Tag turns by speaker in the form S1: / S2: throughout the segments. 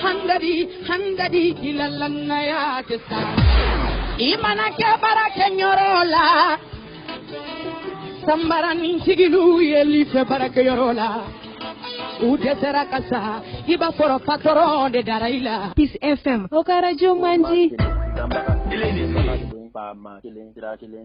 S1: handadi handadi i la lannaya tɛ sa i mana kɛ baarakɛyɔrɔ la sanbarani sigiluw yeli fɛ baarakɛyɔrɔ la u dɛsɛra ka sa i b'a sɔrɔ patɔrɔn de dara i la. Peace FM o ka arajo man di.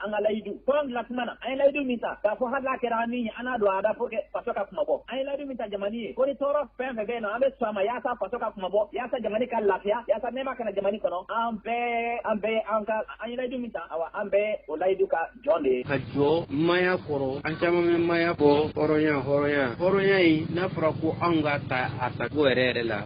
S2: an ka layidu
S3: kɔrɔn bila kuma na an ye layidu min ta k'a fɔ hali n'a kɛra an ni ye an n'a don a da pour que faso ka kunmabɔ an ye layidu min ta jamani ye ko ni tɔɔrɔ fɛn fɛn bɛ yen nɔ an bɛ sɔn a ma yaasa faso ka kunmabɔ yaasa jamani ka lafiya yaasa nɛɛma ka na jamani kɔnɔ an bɛɛ an bɛɛ an ka an ye layidu min ta awa an bɛɛ o layidu ka jɔn de ye ka jɔ
S4: maaya kɔrɔ an caman bɛ maaya bɔ hɔrɔnya hɔrɔnya hɔrɔnya in n'a fɔra ko anw k'a ta a tako yɛrɛ yɛrɛ la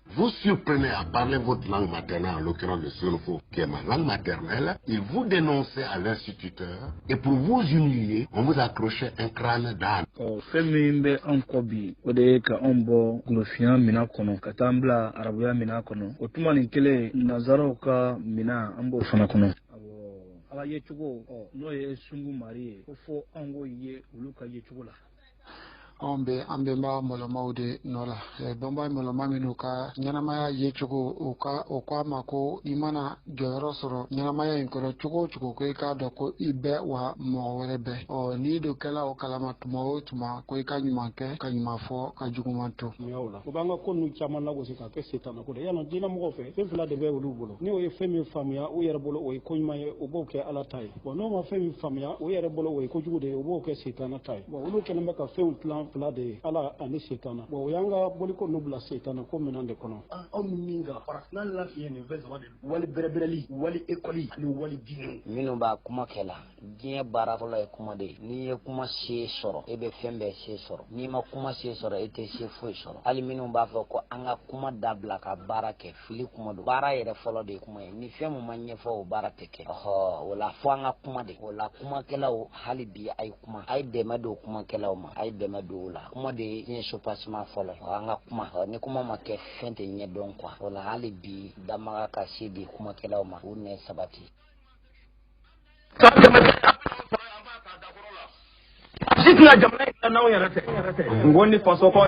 S5: Vous surprenait à parler votre langue maternelle, en l'occurrence le Sénoufo, qui est ma langue maternelle. Il vous dénonçait à l'instituteur et pour vous humilier, on vous accrochait un crâne d'âne. ɔ fɛn min bɛ
S6: an kɔ bi o de ye ka anw bɔ golofinya mina kɔnɔ ka taa an bila arabuya mina kɔnɔ o tuma nin kelen nazaraw ka mina an b'o fana kɔnɔ ala yecogo ɔ n'o ye sungu mari ye k'o fɔ anw k'o ye olu ka yecogo la anw
S7: bɛ an bɛnba mɔlɔnmaw de nɔ la bɛnba mɔlɔnma minnu ka ɲɛnamaya yecogo u ka o k'a ma ko i mana jɔyɔrɔ sɔrɔ ɲɛnamaya in kɔnɔ cogo o cogo ko i k'a dɔn ko i bɛ wa mɔgɔ wɛrɛ bɛ ɔ n'i dun kɛla o kalama tuma o tuma ko i ka ɲuman kɛ ka ɲuman fɔ ka juguman to yen o la o b'an ka
S8: ko ninnu caman lagosi ka kɛ setanako de yannɔ diinɛmɔgɔw fɛ fɛn fila de bɛ olu bolo n'o ye fɛn min faamuya u yɛrɛ bolo o ye ko ɲuman ye u b'o kɛ ala ta ye bɔn n'o ma fɛn min faamuya u yɛrɛ bolo o ye kojugu de ye o b'o kɛ setana ta ye bɔn olu kɛlen bɛ ka fɛnw tilan fila de ye ala ani setana bɔn o y'an ka boliko ninnu bila setanako minan de kɔnɔ aw ni min ka
S9: farafina lafiɲɛ nin fɛn saba de wali bɛrɛbɛrɛli wali ekɔli ani wali diinɛw minnu b'a kuma
S10: kɛ la diɲɛ baara fɔlɔ ye kuma de ye n'i ye kuma se sɔrɔ e bɛ fɛn bɛɛ se sɔrɔ n'i ma kuma se sɔrɔ e tɛ se foyi sɔrɔ hali minnu b'a fɔ ko an ka kuma dabila ka baara kɛ fili kuma don baara yɛrɛ fɔlɔ de ye kuma ye ni fɛn min ma ɲɛfɔ o baara tɛ kɛ ɔhɔ o la fo an ka kuma de o la kumakɛlaw hali bi a ye kuma a ye dɛmɛ don kumakɛlaw ma a ye dɛmɛ don o la kuma de ye diɲɛ sopasima fɔlɔ ye an ka kuma ni kuma ma kɛ fɛn tɛ ɲɛdɔn quoi o la hali bi damaga ka se di kumakɛlaw ma u nɛ sabati si tɛna
S11: jamana in n'anw yɛrɛ tɛ n ko ni faso kɔ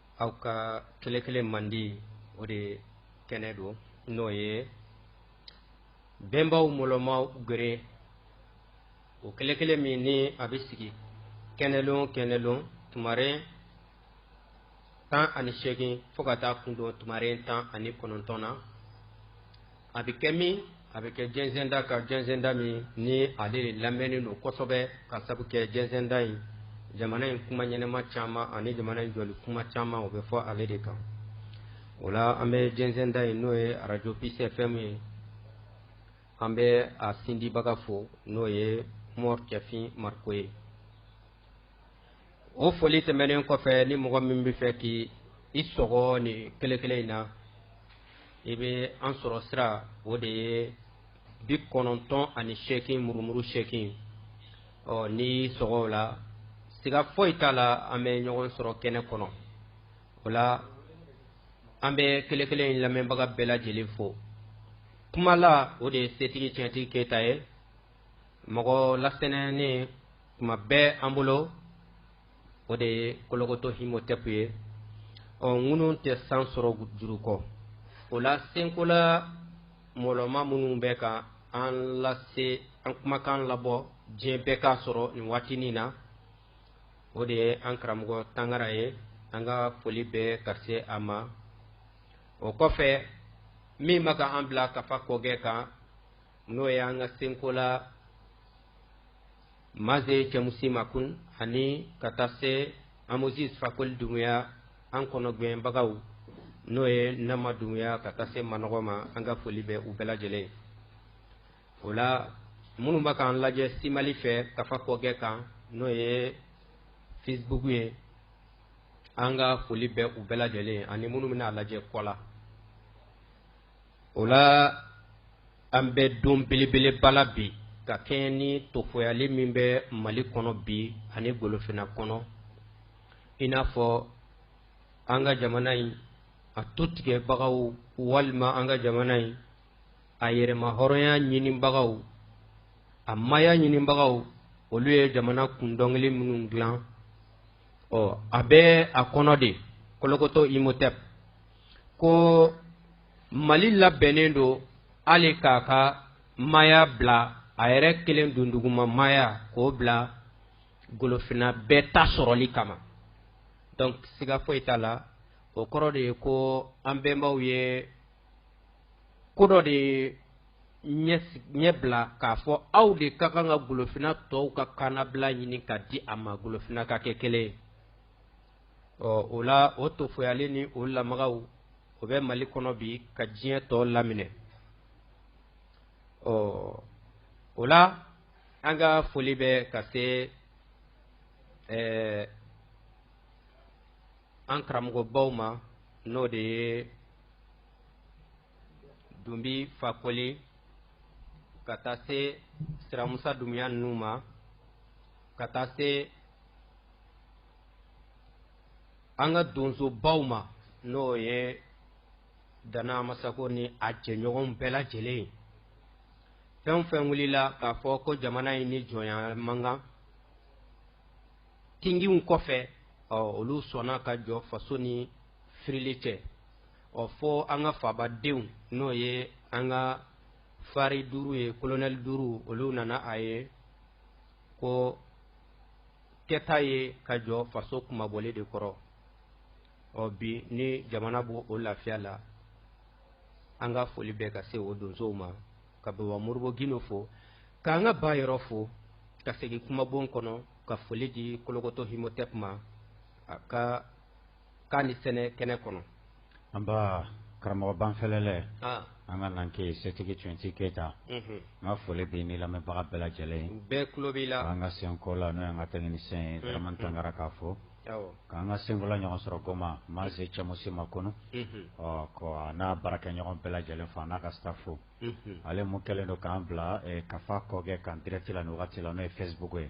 S12: aw ka kelekele mandi o de kɛnɛ don n'o ye bɛnbaw mɔlɔnma gwere o kelekele min ni a bɛ sigi kɛnɛlon kɛnɛlon tumaren tan ani seegin fo ka taa kundon tumaren tan ani kɔnɔntɔn na a bɛ kɛ min a bɛ kɛ jɛnsɛnda kan jɛnsɛnda min ni ale de lamɛnnen don kosɛbɛ k'a sabu kɛ jɛnsɛnda in jamana in kuma ɲɛnɛma caman ani jamana in jɔli kuma caman o bɛ fɔ ale de kan o la an bɛ jɛnsɛnda in n'o ye arajo Peace FM ye an bɛ a sindibaga fo n'o ye mɔri cɛfin mariko ye o foli tɛmɛnen kɔfɛ ni mɔgɔ min bɛ fɛ k'i i sɔgɔ nin kelekele in na i bɛ an sɔrɔ sira o de ye bi kɔnɔntɔn ani seegin murumuru seegin ɔ n'i sɔgɔ o la siga foyi t'a la an bɛ ɲɔgɔn sɔrɔ kɛnɛ kɔnɔ o la an bɛ kelekele in lamɛnbaga bɛɛ lajɛlen fo kumala o de ye setigi tiɲɛtigi keyita ye mɔgɔ lasɛnɛnen tuma bɛɛ an bolo o de ye kolokoto himotɛpu ye ɔ ŋunu tɛ san sɔrɔ juru kɔ o la senkola mɔlɔma minnu bɛ ka an lase an kumakan labɔ diɲɛ bɛɛ k'a sɔrɔ nin waatinin na o de ye an karamɔgɔ tangara ye an ka foli bɛ ka se a ma o kɔfɛ min bɛ ka an bila kafa kɔgɛ kan n'o ye an ka senkola maze cɛmusi makun ani ka taa se amozis fakoli dumuya an kɔnɔgɛnbagaw n'o ye nama dumuya ka taa se manɔgɔ ma an ka foli bɛ u bɛɛ lajɛlen ye o la minnu bɛ k'an lajɛ simali fɛ kafa kɔgɛ kan n'o ye facebook ye an ka foli bɛ u bɛɛ lajɛlen ye ani minnu bɛna a lajɛ kɔ la o la an bɛ don belebeleba la bi ka kɛɲɛ ni tofoyali min bɛ mali kɔnɔ bi ani golofina kɔnɔ i n'a fɔ an ka jamana in a tutigɛbagaw walima an ka jamana in a yɛrɛmahɔrɔnya ɲinibagaw a maya ɲinibagaw olu ye jamana kun dɔnkili minnu dilan ɔ a bɛ a kɔnɔ de kolokoto imotep ko mali labɛnnen don hali k'a ka maya bila a yɛrɛ kelen dunduguma maya k'o bila golofina bɛɛ ta sɔrɔli kama donc siga foyi t'a la o kɔrɔ de ye ko an bɛnbaw ye ko dɔ de ɲɛbila k'a fɔ aw de ka kan ka golofina tɔw ka kannabila ɲini k'a di a ma golofina ka kɛ kelen ye ɔ o la o tofoyali ni o lamagaw o bɛ mali kɔnɔ bi ka diɲɛ tɔ laminɛ ɔ o la an ka foli bɛ ka se ɛɛ eh, an karamɔgɔbaw ma n'o de ye dunbi fakoli ka taa se siramusa dumuya ninnu ma ka taa se an ka donsobaw ma n'o ye dana masako ni a jɛɲɔgɔn bɛɛ lajɛlen ye fɛn fɛn wulila k'a fɔ ko jamana in ni jɔnya man kan tinginw kɔfɛ ɔ olu sɔnna ka jɔ faso ni firili cɛ ɔ fo an ka fabadenw n'o ye an ka fari duuru ye kolonɛli duuru olu nana a ye ko kɛta ye ka jɔ faso kunmabɔli de kɔrɔ ɔ bi ni jamana b'o lafiya la an ka foli bɛ ka se o donsow ma ka baba moribo gindo fo k'an ka ba yɔrɔ fo ka segin kumabon kɔnɔ ka foli di kolokoto himotɛp ma a ka k'a ni sɛnɛ kɛnɛ kɔnɔ an
S2: baa karamɔgɔ banfɛlɛlɛ an ka nanke setigi twenty keyita n ka foli b'i ni lamɛnbaga bɛɛ lajɛlen ye bɛɛ tulo b'i la k'an
S12: ka senkola n'o
S2: y'an ka technicien ye dramane tangara k'a fo k'an ka senkola ɲɔgɔn sɔrɔ goma mase cɛmusi makɔnɔ a n'a baarakɛɲɔgɔn bɛɛ lajɛlen fo a n'a ka staff fo ale mun kɛlen don k'an bila kafa kɔgɛ kan direct la ni wagati la n'o ye facebook ye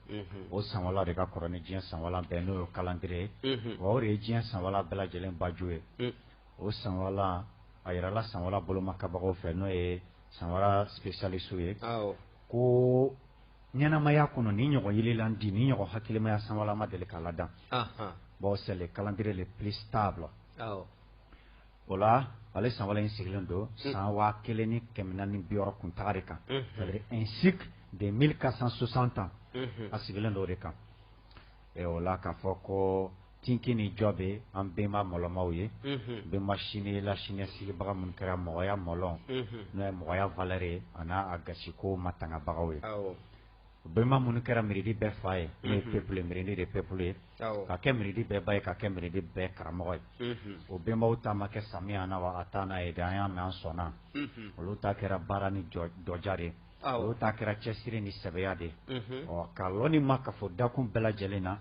S2: o sanwala de ka kɔrɔ ni diɲɛ sanwala bɛɛ n'o ye calendrier ye wa o de ye diɲɛ sanwala bɛɛ lajɛlen baju ye o sanwala a yirala sanwala bolomakabagaw fɛ n'o ye sanwala spécialiste ye ko ɲɛnamaya kɔnɔ ni ɲɔgɔn yelilandi ni ɲɔgɔn hakilimaya sanwala ma deli ka ladan bon c'est le calendrier le plus stable o la ale sanwala in sigilen don san waa kelen ni kɛmɛ naani ni bi wɔɔrɔ kuntaga de kan un cycle de mille quatre cent soixante ans a sigilen don o de kan o la k'a fɔ ko tinki ni jɔ bɛ an bɛnba mɔlɔmaw ye bɛnba sini la sini sigibaga minnu kɛra mɔgɔya mɔlɔn n'o ye mɔgɔya valeur ye a n'a gasiko matangabagaw ye u bɛnba minnu kɛra miiridi bɛɛ fa ye n'o ye peuple miiridi de peuple ye ka kɛ miiridi bɛɛ ba ye ka kɛ miiridi bɛɛ karamɔgɔ ye o bɛnbaw ta ma kɛ samiyana wa ataana ye de an y'a mɛn an sɔnna olu ta kɛra baara ni dɔja de olu ta kɛra cɛsiri ni sɛbɛya de ɔ ka lɔnni makafo dakun bɛɛ lajɛlen na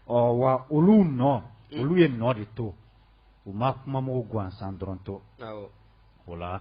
S2: ɔ wa olu nɔ olu ye nɔ de to u ma kumamugu gansan dɔrɔn to o la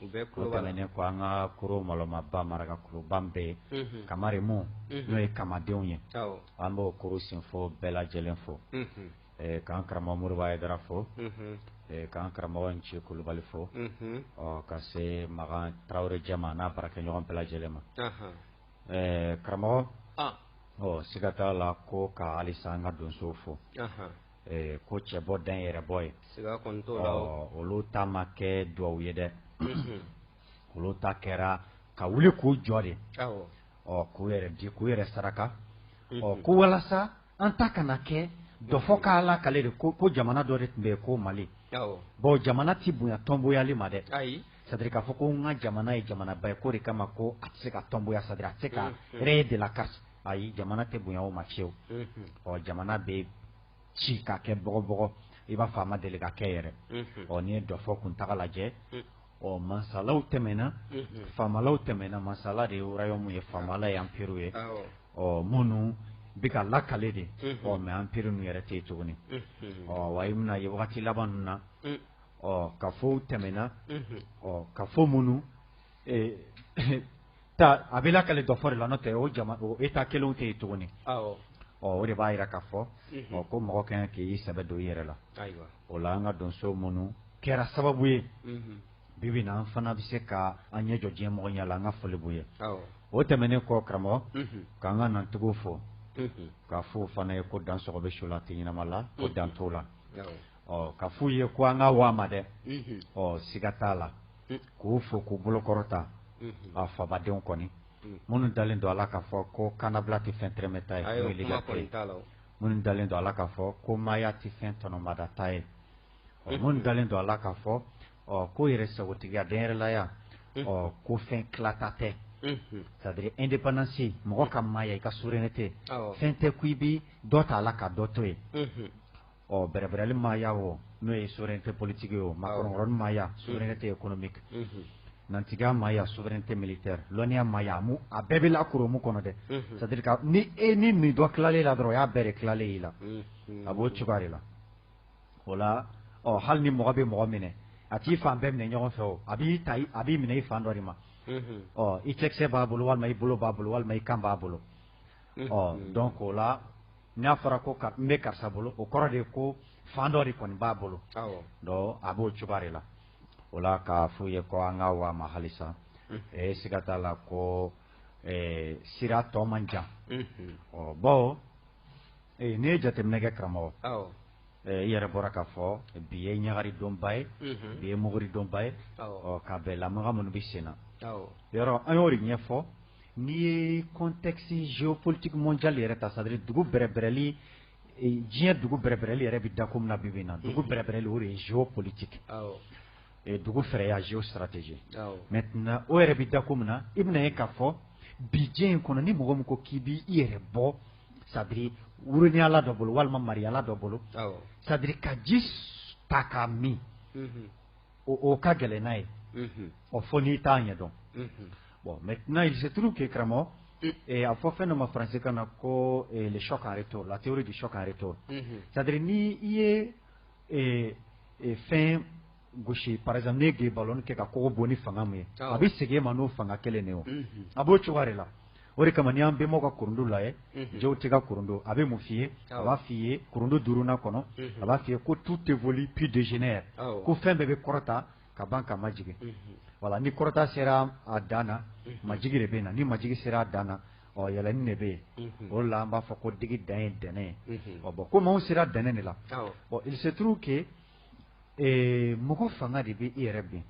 S2: O tɛmɛnen kɔ an ka kuru mɔlɔmaba maraka kuruba bɛɛ ye kamarimu n'o ye kamadenw ye an b'o kuru sinfo bɛɛ lajɛlen fo k'an karamɔgɔ moribo ayidara fo k'an karamɔgɔ nci kulubali fo ɔ ka se makan tarawele jama n'a baarakɛɲɔgɔn bɛɛ lajɛlen ma karamɔgɔ ɔ siga t'a la ko ka halisa an ka donso fɔ Ee ko cɛ bɔ dan yɛrɛ bɔ ye olu ta ma kɛ dugawu ye dɛ olu ta kɛra ka wuli k'u jɔ de ɔ k'u yɛrɛ di k'u yɛrɛ saraka ɔ ko walasa an ta kana kɛ dɔfɔ k'a lakale de ko ko jamana dɔ de tun bɛ yen ko mali bon jamana tɛ bonya tɔnboyali ma dɛ c'est-à-dire k'a fɔ ko n ka jamana ye jamanaba ye k'o de kama ko a tɛ se ka tɔnboya c'est-à-dire a tɛ se ka rayer de la carte ayi jamana tɛ bonya o ma fiyewu ɔ jamana bɛ ci k'a kɛ bɔgɔbɔgɔ i b'a fɔ a ma deli ka kɛ yɛrɛ ɔ n'i ye dɔfɔ kuntaga lajɛ ɔ mansalaw tɛmɛna faamalaw tɛmɛna mansala de ye royaume ye faamala ye empire ye ɔ minnu bɛ ka lakale de ɔ mais empire ninnu yɛrɛ tɛ yen tuguni ɔ wa i bɛn'a ye wagati laban ninnu na ɔ kafow tɛmɛna ɔ kafo minnu a bɛ lakale dɔfɔ de la n'o tɛ o état kelen tɛ yen tuguni o de b'a jira k'a fɔ ko mɔgɔ ka kan k'i sɛbɛ don i yɛrɛ la o la an ka donso minnu kɛra sababu ye bibi na an fana bɛ se ka an ɲɛ jɔ diɲɛ mɔgɔ ɲɛ la an ka foli b'u ye o tɛmɛnen kɔ karamɔgɔ k'an ka nantigiw fo k'a f'u fana ye ko dan sɔgɔ bɛ su la tɛ ɲɛnama la ko dan t'o la k'a f'u ye ko an ka waa ma dɛ ɔ siga t'a la k'u fo k'u bolokɔrɔta a fabadenw kɔni minnu dalen don a la k'a fɔ ko kanabila tɛ fɛn tɛrɛmɛta ye minnu dalen don a la k'a fɔ ko maaya tɛ fɛn tɔnɔmadata ye minnu dalen don a la k'a fɔ ko yɛrɛ sagotigiya denyɛrɛlaya ɔ ko fɛn tilata tɛ c'est-à-dire indépendance mɔgɔ ka maaya i ka souveraineté fɛn tɛ ko i bɛ dɔ ta a la ka dɔ to yen ɔ bɛrɛbɛrɛli maaya o n'o ye souveraineté politique ye o makɔrɔnkɔrɔni maaya souveraineté économique nantigiya maaya souveraineté militaire lɔnniya maaya a bɛɛ bɛ la koromu kɔnɔ dɛ c'est-à-dire que ni nin dɔ tilalen i la dɔrɔn o y'a bɛɛ de tilalen y'i la a b'o cogoya de la o la ɔ hali ni mɔgɔ bɛ mɔgɔ minɛ a t'i fan bɛɛ minɛ ɲɔgɔn fɛ o a b'i ta a b'i minɛ i fan dɔ de ma ɔ i cɛkisɛ b'a bolo walima i bolo b'a bolo walima i kan b'a bolo ɔ donc o la n'a fɔra ko n bɛ karisa bolo o kɔrɔ de ye ko fan dɔ de kɔni b'a bolo donc a b'o cogoya de la o la k'a f'u ye ko an ka waa ma halisa ee siga t'a la ko sira tɔ man jan ɔ bon n'i ye jateminɛ kɛ karamɔgɔ i yɛrɛ bɔra k'a fɔ bi ye ɲagari donba ye bi ye muguri donba ye ɔ k'a bɛn lamaga minnu bɛ sen na yɔrɔ an y'o de ɲɛfɔ N'i ye contexte géopolitique mondial yɛrɛ ta c'est à dire dugu bɛrɛbɛrɛli diɲɛ dugu bɛrɛbɛrɛli yɛrɛ bɛ dakun min na bi bi in na dugu bɛrɛbɛrɛli o de ye géopolitique dugu fɛɛrɛya géostratégie maintenant o yɛrɛ bɛ dakun min na i bɛna ye k'a fɔ bi diɲɛ in kɔnɔ ni mɔgɔ min ko k'i bɛ i yɛrɛ bɔ c'est à dire woronyala dɔ bolo walima mariyala dɔ bolo c'est à dire ka ji ta k'a min o ka gɛlɛn n'a ye fo n'i t'a ɲɛ dɔn bon maintenant il se trouve que karamɔgɔ a fɔ fɛn dɔ ma faransi kan na ko le choc en retour la théorie du choc en retour c'est à dire ni i ye fɛn gosi par exemple ne ye ballon kɛ ka kogo bon ni fanga min ye a bɛ segin i ma n'o fanga kelen de o a b'o cogo de la o de kama n'i y'an bɛnbaw ka kurundu lajɛ Jehuti ka kurundu a bɛ mun f'i ye a b'a f'i ye kurundu duurunan kɔnɔ a b'a f'i ye ko tout évolue puis dégénère ko fɛn bɛɛ bɛ kɔrɔta ka ban ka majigin voilà ni kɔrɔta sera a dan majigin de bɛ na ni majigin sera a dan yɛlɛnni de bɛ yen o la an b'a fɔ ko digi dan ye dɛnɛn ye bon komi anw sera dɛnɛn de la il se trouve que mɔgɔ fanga de bɛ i yɛrɛ bin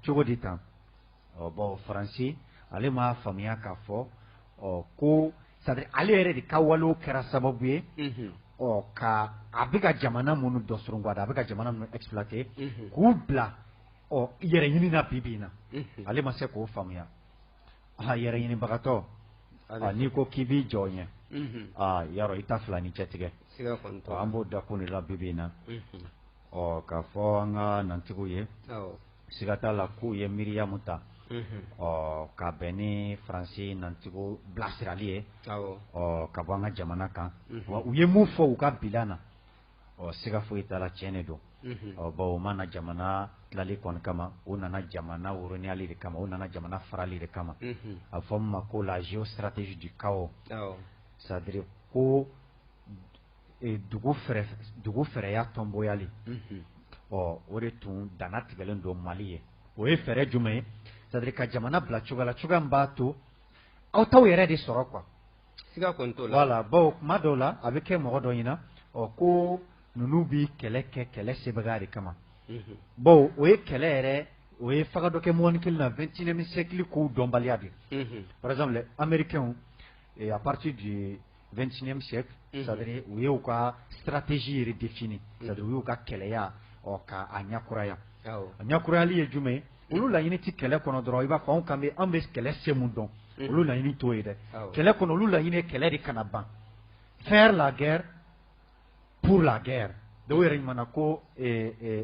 S2: cogo di tan ɔ bon faransi ale m'a faamuya k'a fɔ ɔ ko c'est à dire ale yɛrɛ de ka walew kɛra sababu ye ɔ ka a bɛ ka jamana minnu dɔ surunguada a bɛ ka jamana minnu exploiter k'u bila ɔ yɛrɛ ɲini na bi bi in na ale ma se k'o faamuya aa yɛrɛ ɲinibagatɔ n'i ko k'i b'i jɔ ɲɛ aa ya i ta fila ni cɛ tigɛ an b'o dakun de la bi bi in na Ɔ k'a fɔ an ka nantigiw ye siga t'a la k'u ye miiriya min ta ɔ ka bɛn ni faransi nantigiw bilasirali ye ɔ ka bɔ an ka jamana kan u ye mun fɔ u ka bilan na ɔ siga foyi t'a la tiɲɛ de don ɔ bon u ma na jamana tilali kɔni kama u nana jamana woronyali de kama u nana jamana farali de kama a fɔ min ma ko la géostratégie du chaos c'est à dire ko dugu dugu fɛɛrɛya tɔnboyali ɔ o de tun dan natigɛlen don mali ye o ye fɛɛrɛ jumɛn ye c'est à dire ka jamana bila cogoya la cogoya min b'a to aw t'aw yɛrɛ de sɔrɔ quoi siga kɔni t'o la voilà bon kuma dɔw la a bɛ kɛ mɔgɔ dɔ ɲɛna ɔ ko ninnu bɛ kɛlɛ kɛ kɛlɛ sebaga de kama bon o ye kɛlɛ yɛrɛ o ye faga dɔ kɛ mɔgɔnin kelen na 21e siècle kow dɔnbaliya de par exemple américains à partir de 21e siècle c'est à dire u ye u ka stratégie yɛrɛ défini c'est à dire u y'u ka kɛlɛya ɔ k'a ɲɛ kuraya a ɲɛ kurayali ye jumɛn ye olu laɲini tɛ kɛlɛ kɔnɔ dɔrɔn i b'a fɔ anw kan an bɛ kɛlɛ se min dɔn olu laɲini t'o ye dɛ kɛlɛ kɔnɔ olu laɲini ye kɛlɛ de kana ban faire la guerre pour la guerre dɔw yɛrɛ ɲuman ko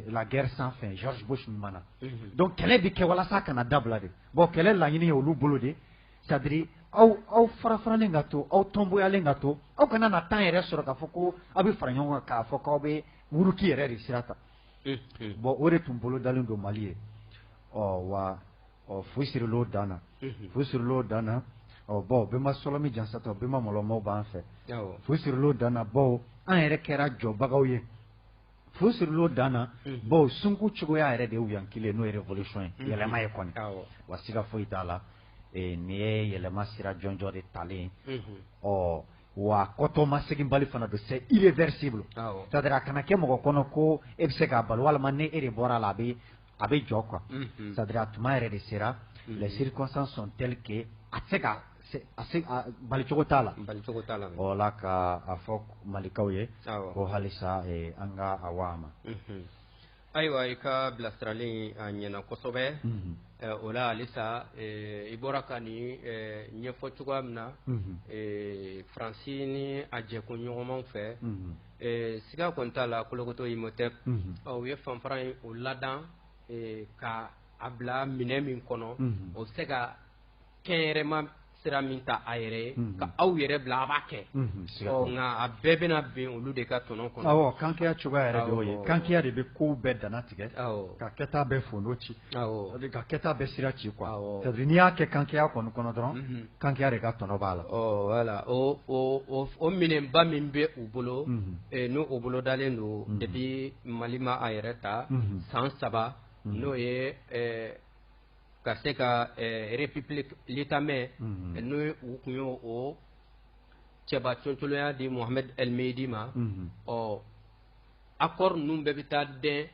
S2: la guerre sans fin George Bush ɲuman donc kɛlɛ bɛ kɛ walasa kana dabila de bon kɛlɛ laɲini ye olu bolo de C'est-à-dire aw aw farafaralen ka to aw tɔnbonyalen ka to aw kana na temps yɛrɛ sɔrɔ k'a fɔ ko aw bɛ fara ɲɔgɔn kan k'a fɔ k'aw bɛ muruki yɛrɛ de sira ta bon o de tun bolo dalen don mali ye ɔ wa ɔ fu sirilon dan na fu sirilon dan na ɔ bon bɛnba Sɔlɔmi jansata bɛnba mɔlɔmaw b'an fɛ fu sirilon dan na bon an yɛrɛ kɛra jɔbagaw ye Fu sirilon dan na bon sunko cogoya yɛrɛ de yan kelen n'o ye révolution ye yɛlɛma ye kɔni wa siga foyi t'a la nin ye yɛlɛma sira jɔnjɔ de talen ɔ wa kɔtɔmaseginbali fana don c'est irréversible c'est-à-dire a kana kɛ mɔgɔ kɔnɔ ko e bɛ se k'a bali walima ni e de bɔra a la a bɛ a bɛ jɔ quoi c'est-à-dire a tuma yɛrɛ de sera les circonstances sont telles que a tɛ se ka balicogo t'a la o la ka a fɔ malikaw ye ko halisa an ka a waa ma
S12: ayiwa i ka bilasirali a ɲɛna kosɛbɛ o la halisa i bɔra ka nin ɲɛfɔ cogoya min na faransi ni a jɛkoɲɔgɔnmaw fɛ Siga kɔni t'a la kolokoto Imhotep u ye fanfara in o ladan ka a bila minɛ min kɔnɔ o bɛ se ka kɛnyɛrɛma sira min ta a yɛrɛ ye ka aw yɛrɛ bila a b'a kɛ nka a bɛɛ bɛna bɛn olu de ka tɔnɔ kɔnɔ kankeya cogoya
S2: yɛrɛ ye kankeya de bɛ kow bɛɛ dana tigɛ ka kɛta bɛɛ fondo ci ka kɛta bɛɛ sira ci quoi n'i y'a kɛ kankeya kɔni kɔnɔ dɔrɔn kankeya de ka tɔnɔ b'a la, ɔ
S12: voilà o minɛnba min bɛ u bolo, unhun, n'o o bolo dalen don depuis Mali ma a yɛrɛ ta, unhun, san saba n'o ye ɛ ka se ka ɛ république Lithamé, unhun, n'o ye u kun y'o o cɛba coolonya di Mohamed El Mehdi ma, unhun, ɔ accord ninnu bɛɛ bɛ taa dɛn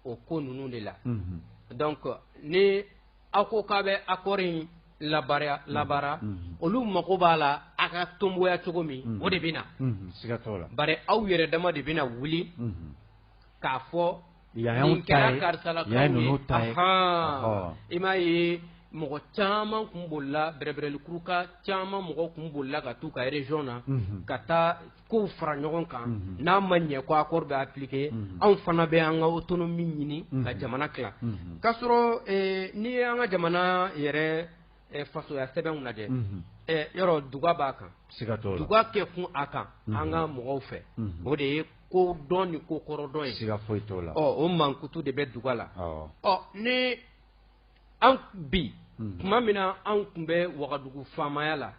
S12: o ko ninnu de la, unhun, donc ni aw ko k'a bɛ accord in labaara olu mago b'a la a ka tonboya cogo min o de bɛ na
S2: bari aw yɛrɛ dama de
S12: bɛna wuli k'a fɔ nin
S2: kɛra
S12: karisala i m'a ye mɔgɔ caman kun bolila bɛrɛbrɛlikuruka caman mɔgɔ kun bolila ka taa u ka région na ka taa k'o fara ɲɔgɔn kan n'a ma ɲɛ ko accord bɛ appliqué anw fana bɛ an ka autonomie ɲini ka jamana tila k'a sɔrɔ n'i ye an ka jamana yɛrɛ fasoya sɛbɛnw lajɛ yɔrɔ duga b'a kan duga kɛ kun a kan an ka mɔgɔw fɛ o de ye ko dɔn ni ko kɔrɔdɔn ye siga foyi t'o la
S2: o mankutu de
S12: bɛ duga la ɔ ni an bi tuma min na anw tun bɛ wagadugu faamaya la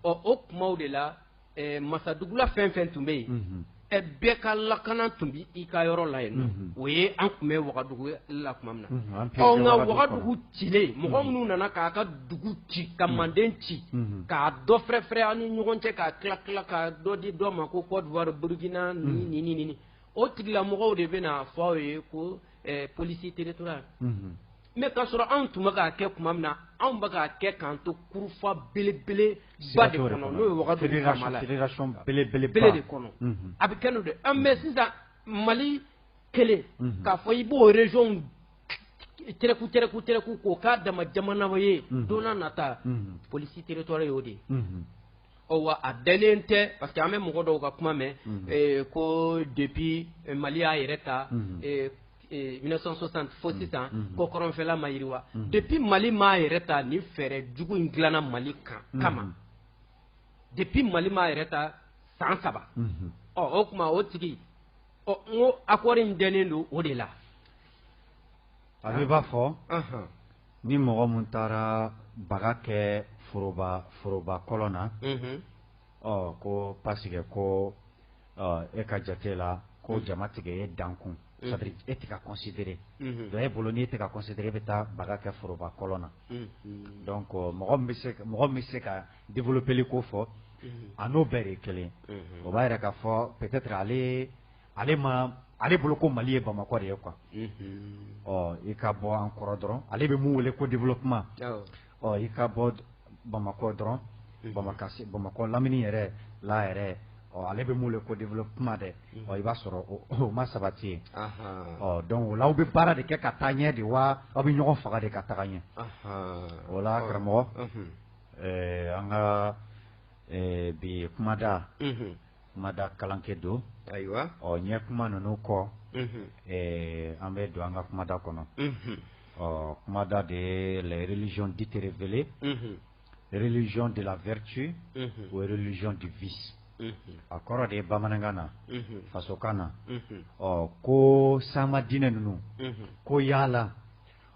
S12: ɔ o tuma de la ɛ masadugula fɛn fɛn tun bɛ yen, unhun, ɛ bɛɛ ka lakana tun bɛ i ka yɔrɔ la yen, unhun, o ye an tun bɛ wagadugu la tuma min na, unhun, an ɔ nka wagadugu cilen, mɔgɔ minnu nana k'a ka dugu ci ka manden ci, unhun, k'a dɔ fɛrɛfɛrɛ an ni ɲɔgɔn cɛ k'a tila tila ka dɔ di dɔ ma ko Cote d'Ivoire, Burkina nin ni nin, o tigilamɔgɔw de bɛna fɔ aw ye ko ɛ police territoriale unhun mais k'a sɔrɔ anw tun bɛ k'a kɛ tuma min na anw bɛ k'a kɛ k'an to kurufa belebeleba de kɔnɔ n'o ye wagadugu
S2: belebele de kɔnɔ
S12: a bɛ kɛ n'o de mais sisan mali kelen k'a fɔ i b'o région tɛrɛku tɛrɛku tɛrɛku k'o k'a dama jamana ye donc a nata police territoriale y'o de ye wa a dalen tɛ parce que an bɛ mɔgɔ dɔw ka kuma mɛn ko depuis mali y'a yɛrɛ ta 1960 fo mm. sisan mm. ko kɔrɔnfɛla ma yiriwa mm. depuis mali m'a yɛrɛ ta ni fɛɛrɛ jugu in dilanna mali kan kama depuis mali m'a yɛrɛ ta san saba mm-hmm. ɔ o tuma o tigi ɔ n ko accord in dɛnnen don o de la
S2: a bɛ b'a fɔ uh-huh. ni mɔgɔ min taara baga kɛ foroba foroba kɔlɔn na mm-hmm. Ɔ ko parce que ko e ka jate la ko jama tigɛ e dankun c'est-à-dire e tɛ ka considérer donc e bolo n'i tɛ ka considérer e bɛ taa baga kɛ foroba kɔlɔn na donc mɔgɔ min bɛ se ka développéli ko fɔ a n'o bɛɛ de kelen o b'a yɛrɛ k'a fɔ peut-être ale ale ma ale bolo ko mali ye bamakɔ de ye quoi ɔ i ka bɔ an kɔrɔ dɔrɔn ale bɛ mun wele ko développement ɔ i ka bɔ bamakɔ dɔrɔn bamakɔ bamakɔ lamini yɛrɛ la yɛrɛ ɔ ale bɛ mun wele ko développement dɛ ɔ i b'a sɔrɔ o ma sabati ye ɔ donc o la aw bɛ baara de kɛ ka taa ɲɛ de wa aw bɛ ɲɔgɔn faga de ka taga ɲɛ o la karamɔgɔ an ka bi kumada kumada kalankɛ don ayiwa ɔ ɲɛ
S12: kuma ninnu
S2: kɔ an bɛ don an ka kumada kɔnɔ ɔ kumada de ye les religions dites révélées religion de la vertu ou religion du vice a kɔrɔ de ye bamanankan na fasokan na ɔ ko sama diinɛ ninnu ko yala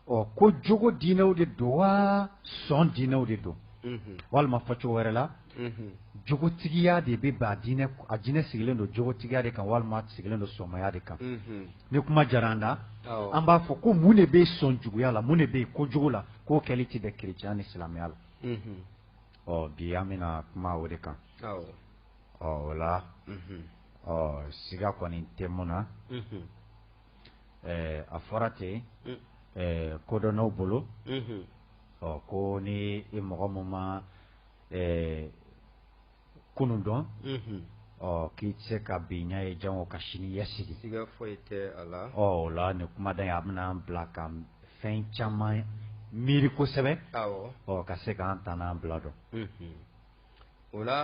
S2: ɔ ko jogo diinɛw de don wa sɔn diinɛw de don walima fɔcogo wɛrɛ la jogotigiya de bɛ ba diinɛ a diinɛ sigilen don jogotigiya de kan walima sigilen don sɔnmaya de kan ni kuma diyara an da an b'a fɔ ko mun de bɛ sɔn juguya la mun de bɛ yen kojugu la k'o kɛli tɛ bɛn kerecɛn ni silamɛya la ɔ bi an bɛna kuma o de kan ɔ o la ɔ siga kɔni tɛ min na a fɔra ten kodɔnnaw bolo ɔ ko ni i mɔgɔ min ma ɛɛ kunun dɔn ɔ k'i tɛ se ka bi ɲɛ ye janko ka sini ɲɛsigi o
S12: la nin kumaden
S2: a bɛna an bila ka fɛn caman miiri kosɛbɛ ɔ ka se k'an ta n'an bila
S12: dɔn o la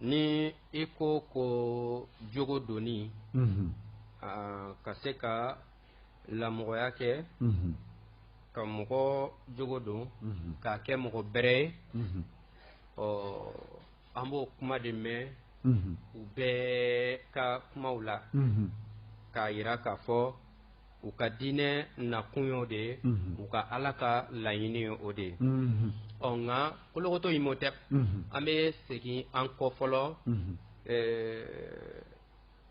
S12: ni i ko ko jogo doni ka se ka lamɔgɔya kɛ ka mɔgɔ jogo don k'a kɛ mɔgɔ bɛrɛ ye ɔ an b'o kuma de mɛn u bɛɛ ka kumaw la k'a yira k'a fɔ u ka diinɛ nakun y'o de ye u ka ala ka laɲini ye o de ye ɔ nka kolokoto Imhotep an bɛ segin an kɔ fɔlɔ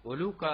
S12: olu ka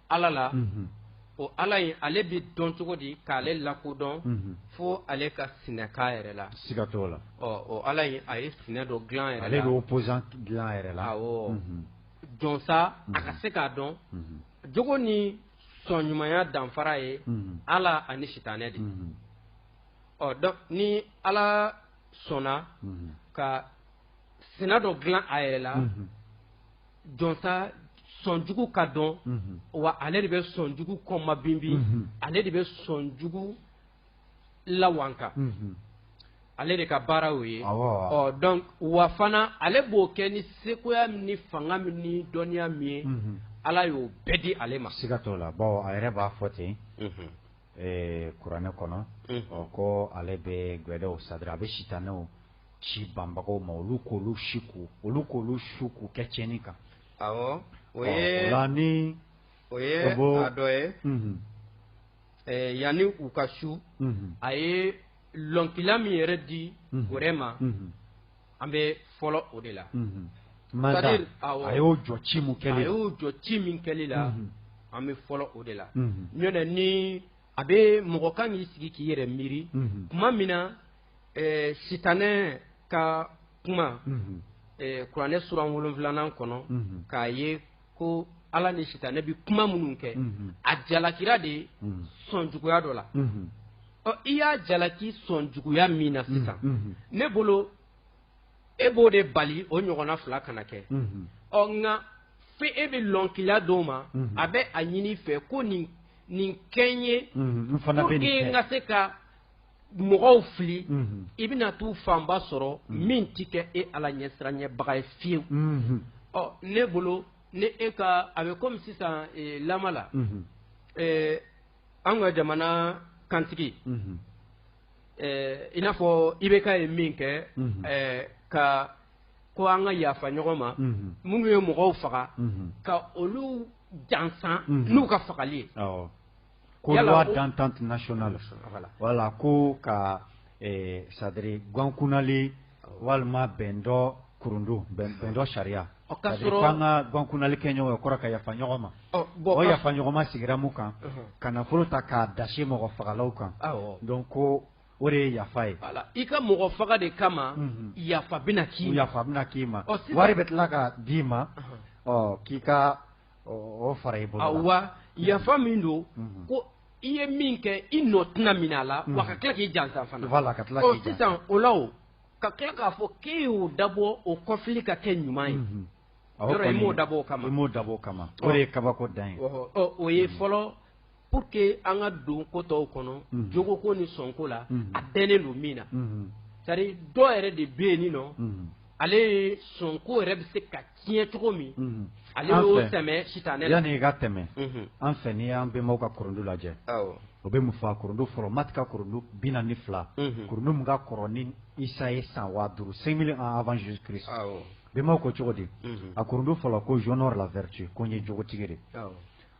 S12: ala la o ala in ale bɛ dɔn cogo di k'ale lakodɔn fo ale ka sinɛ k'a yɛrɛ la siga t'o la
S2: o ala in a
S12: ye sinɛ dɔ dilan yɛrɛ la ale bɛ opposant
S2: dilan yɛrɛ la
S12: jɔnsa a ka se k'a dɔn jugu ni sɔn ɲumanya danfara ye ala ani sitanɛ de donc ni ala sɔnna ka sina dɔ dilan a yɛrɛ la jɔnsa sɔnjugu ka dɔn wa ale de bɛ sɔnjugu kɔma binbin ale de bɛ sɔnjugu lawanka ale de ka baara o ye donc wa fana ale b'o kɛ ni sekoya min ni fanga min ni dɔnniya min ye ala y'o bɛɛ di ale ma siga t'o la bawo a yɛrɛ
S2: b'a fɔ ten Ɛɛ kuranɛ kɔnɔ ko ale bɛ gwɛdɛw c'est-à-dire a bɛ sitanɛw ci banbagaw ma olu k'olu su ko olu k'olu su k'u kɛ tiɲɛni kan awɔ
S12: o ye a dɔ ye yanni u ka su a ye lɔnkila min yɛrɛ di gwɛdɛ ma an bɛ fɔlɔ o de la
S2: a y'o jɔ ci min kɛ a y'o jɔ ci min kɛli
S12: la an bɛ fɔlɔ o de la nɔntɛ ni a bɛ mɔgɔ kan k'i sigi k'i yɛrɛ miiri kuma min na sitanɛ ka kuma kuranɛ suran wolonfilanan kɔnɔ k'a ye ko ala ni sitanɛ bɛ kuma minnu kɛ a jalakira de sɔnjuguya dɔ la ɔ i y'a jalaki sɔnjuguya min na sisan ne bolo e b'o de bali o ɲɔgɔnna fila kana kɛ ɔ nka fo e bɛ lɔnkiliya d'o ma a bɛ a ɲini i fɛ ko nin nin kɛ n ye n ka se ka mɔgɔw fili i bɛna t'u fanba sɔrɔ min tɛ kɛ e ala ɲɛsiranɲɛbaga ye fiyewu ɔ ne bolo ne e ka a bɛ komi sisan lama la an ka jamana kantigi i n'a fɔ IBK ye min kɛ ka ko an ka yafa ɲɔgɔn ma minnu ye mɔgɔw faga ka olu jansan n'u ka fagali ye
S2: Ko loi d'entente nationale wala ko ka c'est-à-dire gwankunali walima bɛn dɔ kurundu bɛn dɔ sariya k'an ka gwankunali kɛ ɲɔgɔn kɔrɔ ka yafa ɲɔgɔn ma o yafa ɲɔgɔn ma sigira mun kan ka nafolo ta k'a dasi mɔgɔ fagalaw kan donc ko o de ye yafa ye i ka mɔgɔ faga
S12: de kama yafa bɛna k'i yafa bɛna k'i ma
S2: wari bɛ tila ka d'i ma k'i ka O fara i bolo la. Awa yafa
S12: min don ko i ye min kɛ i nɔ tɛna minɛ a la wa ka tila k'i jansa fana. Voilà ka tila k'i jansa. Ɔ sisan o la o ka tila k'a fɔ k'e y'o dabɔ o kɔfili ka kɛ ɲuman ye. Unhun. Yɔrɔ i m'o dabɔ o kama. I m'o dabɔ o kama. O de ye
S2: kabako dan ye. Ɔhɔ ɔ o ye fɔlɔ
S12: pour que an ka don ko tɔw kɔnɔ jogoko ni sɔnko la a dɛnnen don min na c'est à dire dɔ yɛrɛ de bɛ yen nin nɔ ale ye sɔnko yɛrɛ bɛ se ka tiɲɛ cogo min ale y'o tɛmɛ sitanɛ la yanni i ka tɛmɛ
S2: an fɛ n'i y'an bɛnbaw ka kurundu lajɛ o bɛ mun fɔ a kurundu fɔlɔ mati ka kurundu bi naani ni fila kurundu mun ka kɔrɔ ni isa ye san waa duuru cinq mille ans avant jésus christ bɛnbaw ko cogo di a kurundu fɔlɔ ko j'honore la vertu ko n ye jogotigi de ye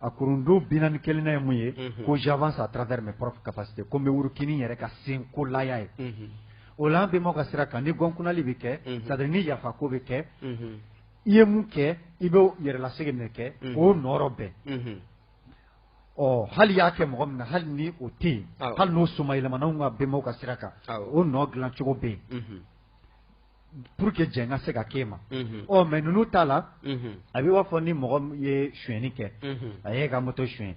S2: A kurundu bi naani ni kelennan ye mun ye ko j'avance à travers mes propres capacités ko n bɛ wuruki ni n yɛrɛ ka senkolaya ye o la an bɛnbaw ka sira kan ni gwankunali bɛ kɛ c'est-à-dire ni yafako bɛ kɛ i ye mun kɛ i bɛ yɛrɛlasegin de kɛ k'o nɔrɔ bɛn ɔ hali y'a kɛ mɔgɔ min na hali ni o tɛ yen hali n'o somayɛlɛmana an ka bɛnbaw ka sira kan o nɔ dilancogo bɛ yen pour que jɛn ka se ka k'e ma ɔ mais ninnu ta la a bɛ b'a fɔ ni mɔgɔ ye suyɛnni kɛ a y'e ka moto suyɛn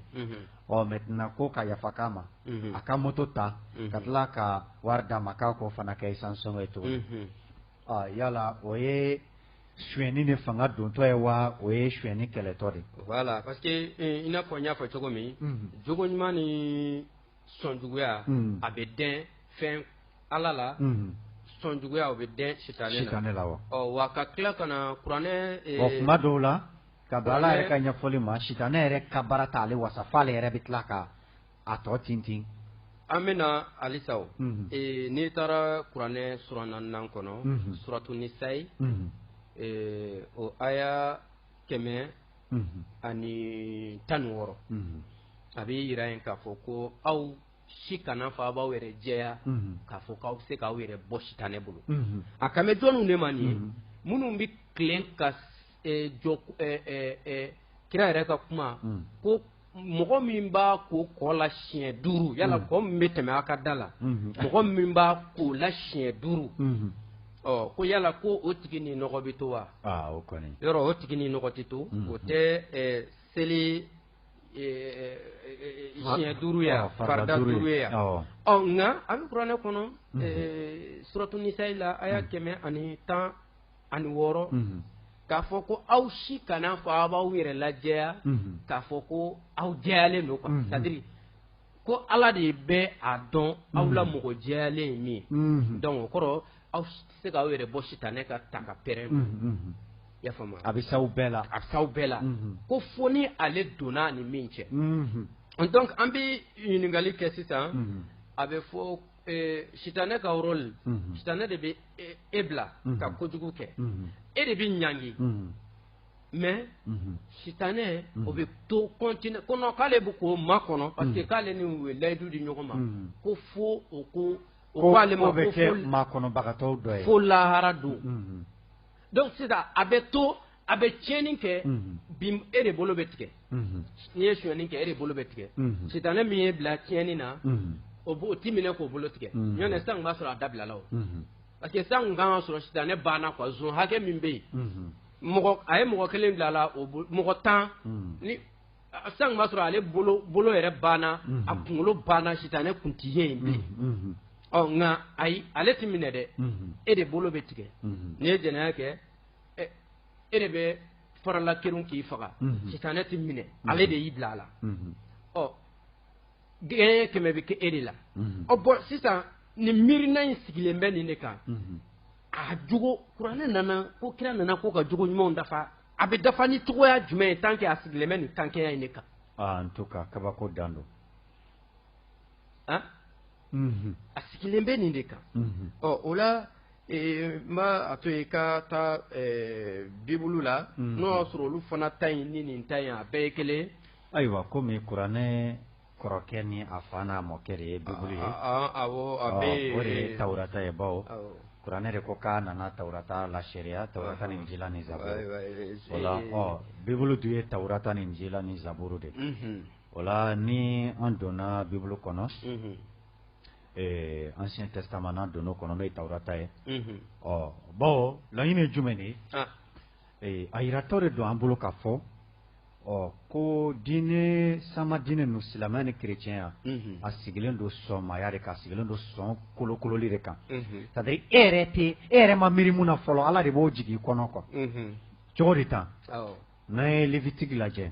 S2: ɔ maintenant ko ka yafa k'a ma a ka moto ta ka tila ka wari d'a ma k'a k'o fana kɛ essence sɔngɔ ye tuguni ɔ yala o ye suyɛnni ni fanga dontɔ ye wa o ye suyɛnni kɛlɛtɔ de ye voilà parce
S12: que i n'a fɔ n y'a fɔ cogo min jogo ɲuman ni sɔnjuguya unhun a bɛ dɛn fɛn Ala la unhun sɔnjuguya o bɛ dɛn sitanɛ la sitanɛ la wa ɔ wa ka
S2: tila ka na
S12: kuranɛ ee bon kuma dɔw la
S2: ka bɛn Ala yɛrɛ ka ɲɛfɔli ma sitanɛ yɛrɛ ka baara t'ale wasa fɔ ale yɛrɛ bɛ tila ka a tɔ tintin an
S12: bɛna halisa o unhun ee n'i taara kuranɛ sura naaninan kɔnɔ unhun suratu nisayi unhun ee o aya kɛmɛ ani tan ni wɔɔrɔ a bɛ yira yen k'a fɔ ko aw si kana fɔ a b'aw yɛrɛ jɛya k'a fɔ k'aw bɛ se k'aw yɛrɛ bɔ sitanɛ bolo a kan bɛ jɔnw de ma nin ye minnu bɛ tilen ka jɔ kira yɛrɛ ka kuma ko mɔgɔ min b'a ko kɔ la siɲɛ duuru yala kɔ min bɛ tɛmɛ a ka da la mɔgɔ min b'a ko la siɲɛ duuru ko yala ko o tigi ni nɔgɔ bɛ to wa yɔrɔ
S2: o tigi ni nɔgɔ tɛ
S12: to o tɛ seli siɲɛ duuru ye a farida duuru ye a ɔ nka a bɛ kuranɛ kɔnɔ suratu nisayi la aya kɛmɛ ani tan ani wɔɔrɔ k'a fɔ ko aw si kana fɔ aw b'aw yɛrɛ lajɛya k'a fɔ ko aw jɛyalen don quoi c'est à dire ko Ala de bɛ a dɔn aw la mɔgɔ jɛyalen ye min ye donc o kɔrɔ aw tɛ se k'aw yɛrɛ bɔ sitanɛ ka takapɛrɛn ma i y'a faamu wa a bɛ s'aw bɛɛ la
S2: a bɛ s'aw bɛɛ
S12: la ko fo ni ale donna a ni min cɛ donc an bɛ ɲininkali kɛ sisan a bɛ fɔ sitanɛ ka rôle sitanɛ de bɛ e bila ka kojugu kɛ e de bɛ ɲangi mais sitanɛ o bɛ to continue ko non k'ale bɛ k'o makɔnɔ parce que k'ale ni u ye layidu di ɲɔgɔn ma ko fo o ko k'ale bɛ kɛ makɔnɔbagatɔw
S2: dɔ ye fo lahara don
S12: donc sisan a bɛ to a bɛ tiɲɛni kɛ bi e de bolo bɛ tigɛ n'i ye sonyɛni kɛ e de bolo bɛ tigɛ sitanɛ min y'i bila tiɲɛni na o o ti minɛ k'o bolo tigɛ nɔntɛ sisan b'a sɔrɔ a dabilala o parce que sisan kan k'a sɔrɔ sitanɛ banna quoi zon hakɛ min bɛ yen mɔgɔ a ye mɔgɔ kelen bila a la o mɔgɔ tan ni sisan b'a sɔrɔ ale bolo yɛrɛ banna a kunkolo banna sitanɛ kun tɛ ye yen bilen nka ayi ale tɛ minɛ dɛ e de bolo bɛ tigɛ n'i ye jɛnɛya kɛ ɛ e de bɛ farala kerun k'i faga sitanɛ tɛ minɛ ale de y'i bila a la ɔ gɛɲɛ kɛmɛ bɛ kɛ e de la ɔ bon sisan nin miirina in sigilen bɛ nin de kan a jogo kuranɛ nana ko kira nana ko ka jogo ɲumanw dafa a bɛ dafa ni cogoya jumɛn ye tant que a sigilen bɛ nin tankɛya in de kan en tout
S2: cas kabako dan don
S12: a sigilen bɛ nin de kan ɔ o la n b'a a to yen ka taa bibulu la n'o y'a sɔrɔ olu fana ta in ni nin ta in a bɛɛ ye kelen ayiwa komi
S2: kuranɛ kɔrɔkɛ ni a fa n'a mɔkɛ de ye bibulu ye
S12: o de ye tawurata
S2: ye bawo kuranɛ de ko k'a nana tawurata lasereya tawurata ni injila ni zaburu o la bibulu dun ye tawurata ni injila ni zaburu de ye o la ni an donna bibulu kɔnɔ ancien testament n'an donna o kɔnɔ n'o ye tawurata ye bawo laɲini ye jumɛn de ye a yiratɔ de don an bolo k'a fɔ ko diinɛ sama diinɛ ninnu silamɛya ni kerecɛnya a sigilen don sɔnmaya de kan a sigilen don sɔn kolokololi de kan c'est à dire e yɛrɛ tɛ e yɛrɛ ma miiri min na fɔlɔ ala de b'o jigin i kɔnɔ quoi cogo de tan n'an ye lévitique lajɛ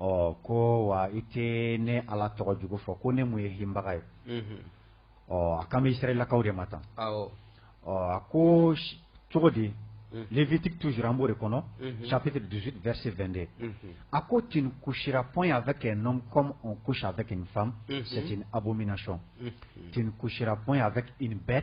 S2: Ɔ ko wa i tɛ ne ala tɔgɔ jugu fɔ ko ne mun ye hinbaga ye ɔ a kami serilakaw de ma tan ɔ a ko cogo di fiti tu an b' de kɔnɔ safete dusu bɛsi2de a ko ten ko siraɔn y'a fɛ kɛ n ko safɛ kɛ nin fan sɛc a bɛ min na sɔn ten ko siraɔn y'a fɛ bɛɛ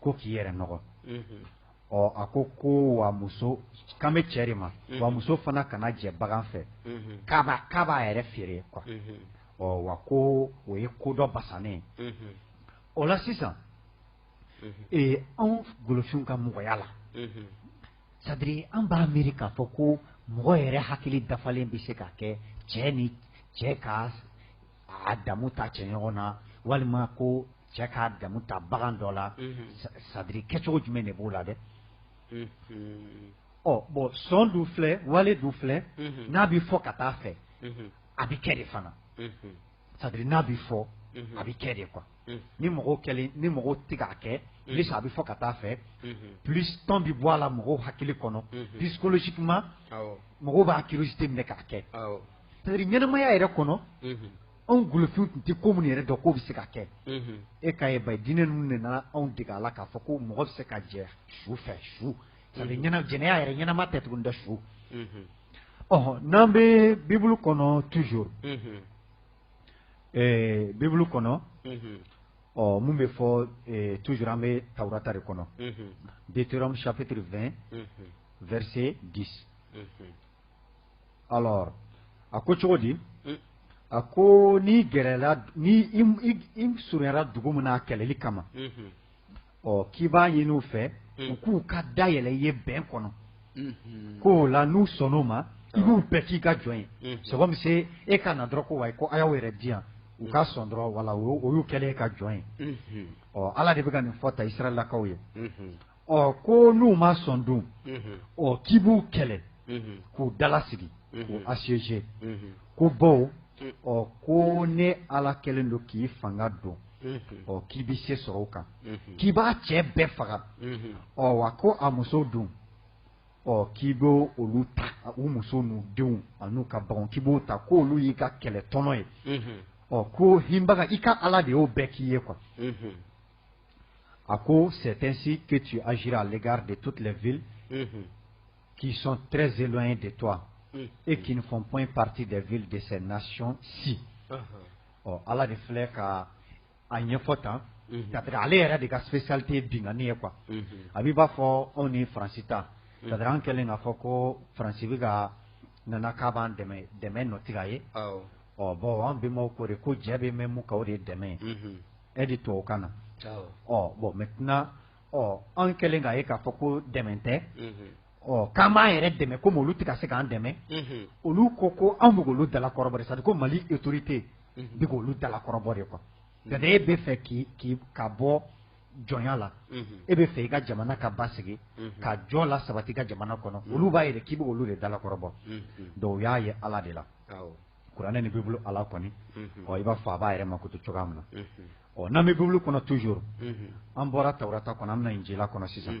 S2: ko k'i yɛrɛ nɔgɔ ɔ a ko ko wa muso kan bɛ cɛ de ma wa muso fana kana jɛ bagan fɛ k'a b'a yɛrɛ feere quoi ɔ wa ko o ye ko dɔ basanen o la sisan ee anw golofinw ka mɔgɔya la c'est à dire an b'a miiri k'a fɔ ko mɔgɔ yɛrɛ hakili dafalen bɛ se ka kɛ cɛ ni cɛ ka a damu ta cɛ ɲɔgɔn na walima ko cɛ k'a damu ta bagan dɔ la c'est à dire kɛcogo jumɛn de b'o la dɛ ɔ bon sɔn dɔ filɛ wale dɔ filɛ n'a bɛ fɔ ka taa fɛ a bɛ kɛ de fana c'est à dire n'a bɛ fɔ a bɛ kɛ de quoi ni mɔgɔw kɛlen ni mɔgɔw tɛ k'a kɛ plus a bɛ fɔ ka taa fɛ plus temps bɛ bɔ a la mɔgɔw hakili kɔnɔ psychologiquement mɔgɔw b'a curiosité minɛ k'a kɛ c'est à dire ɲɛnamaya yɛrɛ kɔnɔ anw golofinw tun tɛ ko minnu yɛrɛ dɔn k'o bɛ se ka kɛ e k'a ye bayi diinɛ ninnu de nana anw dege a la k'a fɔ ko mɔgɔ bɛ se ka jɛ su fɛ su c'est à dire ɲɛna jɛnɛya yɛrɛ ɲɛnama tɛ tuguni dɛ su ɔhɔn n'an bɛ bibulu kɔnɔ toujours Ɛɛ bibulu kɔnɔ ɔ min bɛ fɔ tu an bɛ tatari kɔnɔ bi tora safetirifɛn vse di a ko cogo di a ko ni gɛrɛ ni surunyara dugu min a kɛlɛli kama ɔ k'i b'a ɲini u fɛ u k'u ka da yɛlɛ i ye bɛn kɔnɔ ko o la n'u sɔnn'o ma i b'u bɛɛ k'i ka jɔn ye c'est comme si e ka na dɔrɔn ko wa ko a y'aw yɛrɛ di yan u ka sɔn dɔrɔn voilà o y'u kɛlen y'i ka jɔn ye ɔ ala de bɛ ka nin fɔ tan israɛlakaw ye ɔ ko n'u ma sɔn don ɔ k'i b'u kɛlɛ k'u dala sigi k'u assiéger ko bawo ɔ ko ne ala kɛlen don k'i fanga don ɔ k'i bɛ se sɔrɔ o kan k'i b'a cɛ bɛɛ faga ɔ wa ko a musow dun ɔ k'i bɛ olu ta u musow n'u denw an'u ka baganw k'i b'o ta k'olu y'i ka kɛlɛ tɔnɔ ye ɔ ko hinbaga i ka ala de y'o bɛɛ k'i ye quoi a ko c'est ainsi que tu agiras à l'égard de toutes les villes qui sont très éloignées de toi et qui ne font point partie des villes de ces nations-ci ɔ Ala de filɛ ka a ɲɛfɔ tan, unhun, c'est à dire ale yɛrɛ de ka spécialité ye binkanni ye quoi, unhun, a bɛ i b'a fɔ anw ni Faransi ta, c'est à dire an kɛlen k'a fɔ ko Faransi bɛ ka nana k'a b'an dɛmɛ dɛmɛ nɔ tɛ ka ye, awɔ, ɔ bon an bɛnbaw k'o de ko jɛ bɛ mɛmu ka o de dɛmɛ ye, unhun, aide tubabukan na, awɔ, ɔ bon maintenant ɔ anw kɛlen k'a ye k'a fɔ ko dɛmɛ tɛ, unhun k'an b'an yɛrɛ dɛmɛ ko olu tɛ ka se k'an dɛmɛ olu ko ko anw bɛ k'olu dala kɔrɔbɔ de sa ko mali autorité bɛ k'olu dala kɔrɔbɔ de quoi nka e b'a fɛ k'i ka bɔ jɔnya la e b'a fɛ i ka jamana ka basigi ka jɔ lasabati i ka jamana kɔnɔ olu b'a yɛrɛ k'i bɛ k'olu de dala kɔrɔbɔ dɔw y'a ye ala de la kuranɛ ni bibulu ala kɔni ɔ i b'a fɔ a b'a yɛrɛ mankutu cogoya min na ɔ n'an bɛ bibulu kɔnɔ toujours an bɔra tawurata kɔnɔ an bɛ na injila kɔnɔ sisan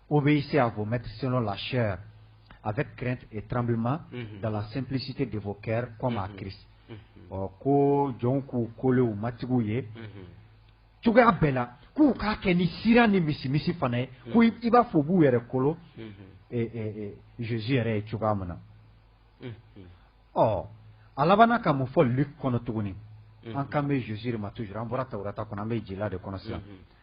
S2: O bɛ se a ko mɛtisɔn lasi a bɛ kɛ tranbima dala senpsite de fɔ kɛ kɔ ma kiri ɔ ko jɔn k'u kolen matigiw ye cogoya bɛɛ la k'u k'a kɛ ni sira ni misi misi fana ye ko i b'a fɔ b'u yɛrɛ kolo zsi yɛrɛ ye cogoya min na ɔ a laban ka mun fɔ kɔnɔ tuguni an kan bɛ zosiri ma tu an bɔra tata kɔnɔ an bɛ jila de kɔnɔ sisan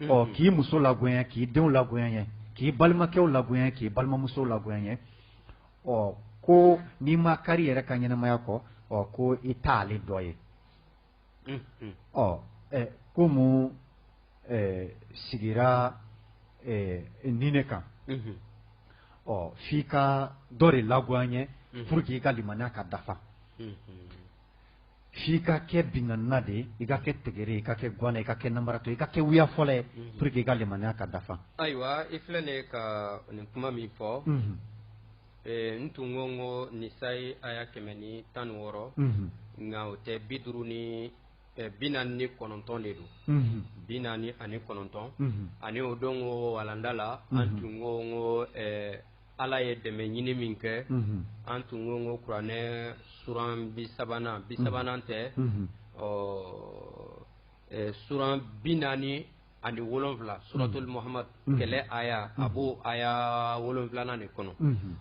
S2: ɔ k'i muso lagoya n ye k'i denw lagoya n ye k'i balimakɛw lagoya n ye k'i balimamusow lagoya n ye ɔ ko n'i ma kari yɛrɛ ka ɲɛnamaya kɔ ɔ ko i t'ale dɔ ye ɔ ko mun sigira nin de kan ɔ f'i ka dɔ de lagoya n ye pour que i ka limaniya ka dafa f'i ka kɛ binkannina de ye i ka kɛ tegere i ka kɛ gana i ka kɛ namaratɔ i ka kɛ wuya fɔla ye pour que i ka limaniya ka dafa ayiwa i filɛ de
S12: ka nin kuma min fɔ n tun ko ko nisayi aya kɛmɛ ni tan ni wɔɔrɔ nka o tɛ bi duuru ni bi naani ni kɔnɔntɔn de don bi naani ani kɔnɔntɔn ani o don ko walanda la an tun ko ko Ala ye dɛmɛ ɲini min kɛ an tun ko ko kuranɛ suran bi sabanan bi sabanan tɛ ɔ suran bi naani ani wolonwula suratul Muhamadu kɛlɛ aya a b'o aya wolonwulanan de kɔnɔ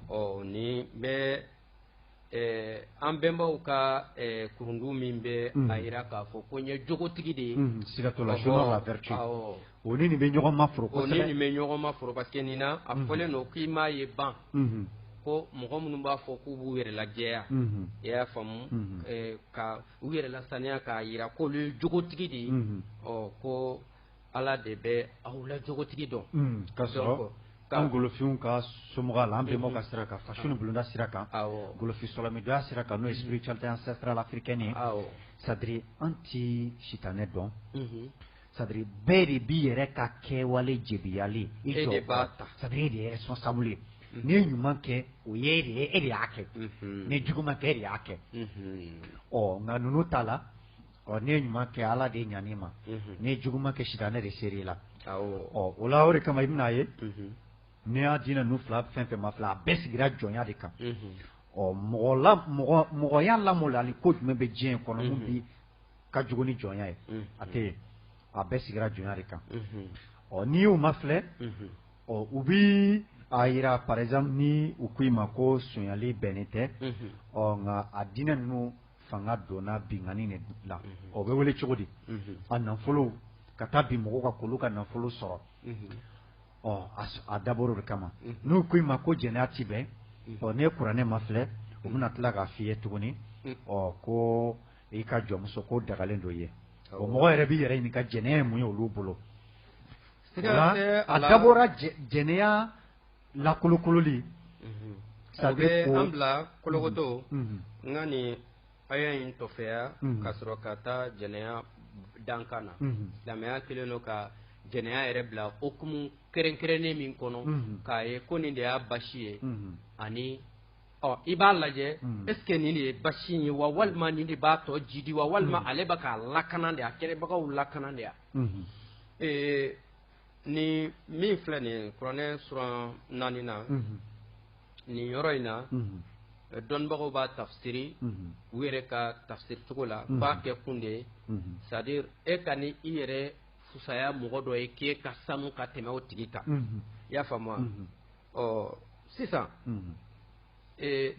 S12: ɔ nin bɛ an bɛnbaw ka kurundu min bɛ a jira k'a fɔ ko n ye jogotigi de ye siga
S2: t'o la la vertu o ni nin bɛ ɲɔgɔn ma foro o ni nin bɛ ɲɔgɔn ma
S12: foro parce que nin na a fɔlen don k'i m'a ye ban ko mɔgɔ minnu b'a fɔ k'u b'u yɛrɛ lajɛya i y'a faamu ka u yɛrɛ lasaniya k'a jira k'olu ye jogotigi de ye ɔ ko Ala de bɛ aw la jogotigi dɔn ka
S2: sɔrɔ k'an golofinw ka so la an bɛnbaw ka sira kan fasu ni bulonda sira kan golofin sɔlɔmidoya sira kan n'o ye spiritualité ancestrale africaine ye c'est à dire an tɛ sitanɛ dɔn c'est à dire bɛɛ de b'i yɛrɛ ka kɛwale jebiyali c'est à dire e de ye responsable ye n'i ye ɲuman kɛ o ye e de y'a kɛ n'i ye juguman kɛ e de y'a kɛ ɔ nka ninnu ta la Ɔ n'i ye ɲuman kɛ ala de ɲan'i ma n'i ye juguman kɛ sitanɛ de ser'i la ɔ o la o de kama i bɛn'a ye n'i y'a diinɛ ninnu fila fɛn fɛn mafilɛ a bɛɛ sigira jɔnya de kan ɔ mɔgɔ mɔgɔya lamɔ la ni ko jumɛn bɛ diɲɛ kɔnɔ min bi ka jugu ni jɔnya ye a tɛ yen a bɛɛ sigira jɔnya de kan ɔ n'i y'u mafilɛ ɔ u bɛ a jira par exemple ni u ko i ma ko sonyali bɛnnen tɛ ɔ nka a diinɛ ninnu fanga donna binkanni de la, unhun, o bɛ wele cogo di, unhun, a nafolo ka taa bin mɔgɔw kan k'olu ka nafolo sɔrɔ, unhun, ɔ a dabɔra o de kama, unhun, n'u k'i ma ko jɛnɛya tɛ bɛn, unhun, ɔ n'i ye kuranɛ mafilɛ, u bɛna tila k'a f'i ye tuguni, unhun, ɔ ko i ka jɔnmuso k'o dagalen don i ye, awɔ, o mɔgɔ yɛrɛ b'i yɛrɛ ɲininka jɛnɛya ye mun ye olu bolo, siga tɛ a la, a dabɔra jɛnɛya
S12: lakolokololi o bɛ an bila kolokoto nka nin aya in tɔfɛya ka sɔrɔ ka taa jɛnɛya dankan na silamɛya kɛlen don ka jɛnɛya yɛrɛ bila okumu kɛrɛnkɛrɛnnen min kɔnɔ k'a ye ko nin de y'a basi ye ani ɔ i b'a lajɛ est ce que nin de ye basi ye wa walima nin de b'a tɔ jidi wa walima ale bɛ k'a lakana de a kɛlibagaw lakana de yan Ni min filɛ nin kuranɛ suran naani na nin yɔrɔ in na dɔnnibagaw b'a tafsiri u yɛrɛ ka tafsiricogo la u b'a kɛ kun de ye c'est à dire e kan'i yɛrɛ fusaya mɔgɔ dɔ ye k'e ka sanu ka tɛmɛ o tigi kan i y'a faamu wa ɔ sisan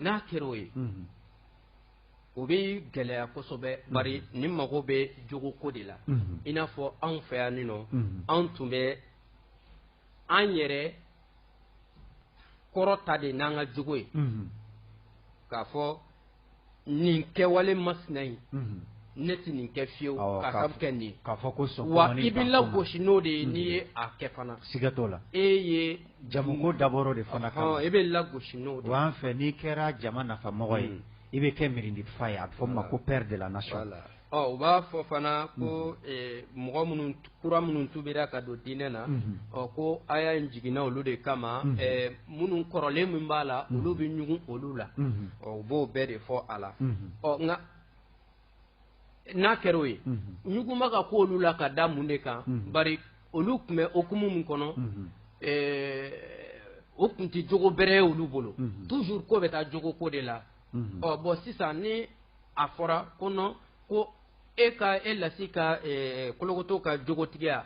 S12: n'a kɛra o ye o bɛ gɛlɛya kosɛbɛ bari ni mago bɛ jogoko de la i n'a fɔ anw fɛ yan nin nɔ anw tun bɛ an yɛrɛ kɔrɔta de n'an ka jogo ye k'a fɔ nin kɛwale masina in ne tɛ nin kɛ fiyewu k'a sabu kɛ nin ye wa i bɛ lagosi n'o de ye n'i ye a kɛ fana siga t'o la e
S2: ye
S12: jamuko
S2: dabɔra de fana kama i bɛ lagosi n'o
S12: de ye, wa an fɛ n'i kɛra
S2: jama nafamɔgɔ ye i bɛ kɛ mirintifa ye a bɛ fɔ min ma ko père de la
S12: nation
S2: u b'a fɔ fana ko mɔgɔ minnu
S12: kura minnu tubira ka don diinɛ na ko aya in jiginna olu de kama minnu kɔrɔlen min b'a la olu bɛ ɲugun olu la u b'o bɛɛ de fɔ a la ɔ nka n'a kɛra o ye ɲugunba ka ko olu la ka da mun de kan bari olu tun bɛ okumu min kɔnɔ o tun tɛ jogo bɛrɛ ye olu bolo toujours ko bɛ taa jogo ko de la ɔ bon sisan ni a fɔra ko non ko e ka e lasi ka kolokoto ka jogotigiya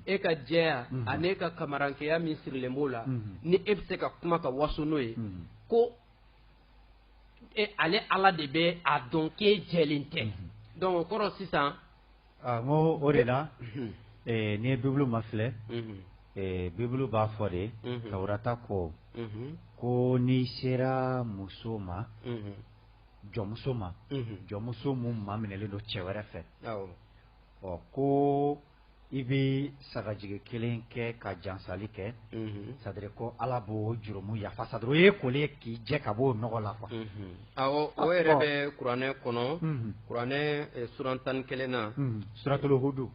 S12: e ka jɛya ani e ka kamarankɛya min sirilen b'o la ni e bɛ se ka kuma ka waso n'o ye ko e ale ala de bɛ a dɔn k'e jɛlen tɛ mhm. donc o kɔrɔ sisan ah, n ko
S2: o de la mhm. eh, n'i ye bibulu mafilɛ mhm. eh, bibulu b'a fɔ de tawurata ko ko n'i sera muso ma jɔnmuso ma jɔnmuso min maminɛlen don cɛ wɛrɛ fɛ ɔ ko i bɛ sagajigi kelen kɛ ka jansali kɛ c'est-à-dire ko ala b'o jurumu yafa sa o ye koli ye k'i jɛ ka b'o nɔgɔ la quoi o
S12: yɛrɛ bɛ kuranɛ kɔnɔ kuranɛ suran tan ni kelen na suratul
S2: hudu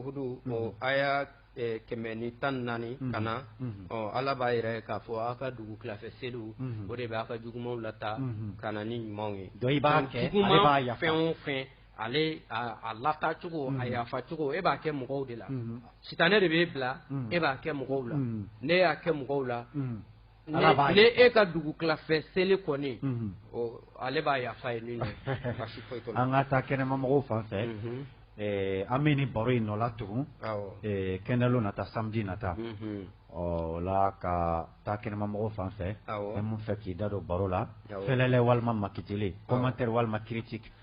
S12: hudu aya kɛmɛ ni tan naani ka na ɔ ala b'a yɛrɛ k'a fɔ aw ka dugu tilafɛ seliw o de bɛ aw ka jugumanw lata ka na ni ɲumanw ye donc i b'a kɛ
S2: b'a fɛn o fɛ
S12: ale a lata cogo a yafa cogo e b'a kɛ mɔgɔw de la sitanɛ de b'e bila e b'a kɛ mɔgɔw la ne y'a kɛ mɔgɔw la ne e ka dugu tilafɛ seli kɔni ale b'a yafa ye min an ka taa kɛnɛma
S2: mɔgɔw fan fɛ an bɛ ni baro in nɔ la tugun kɛnɛlon nata samedi nata o la ka taa kɛnɛma mɔgɔw fan fɛ min b'a fɛ k'i da don baro la fɛlɛ walima makiteli commentaire walima critique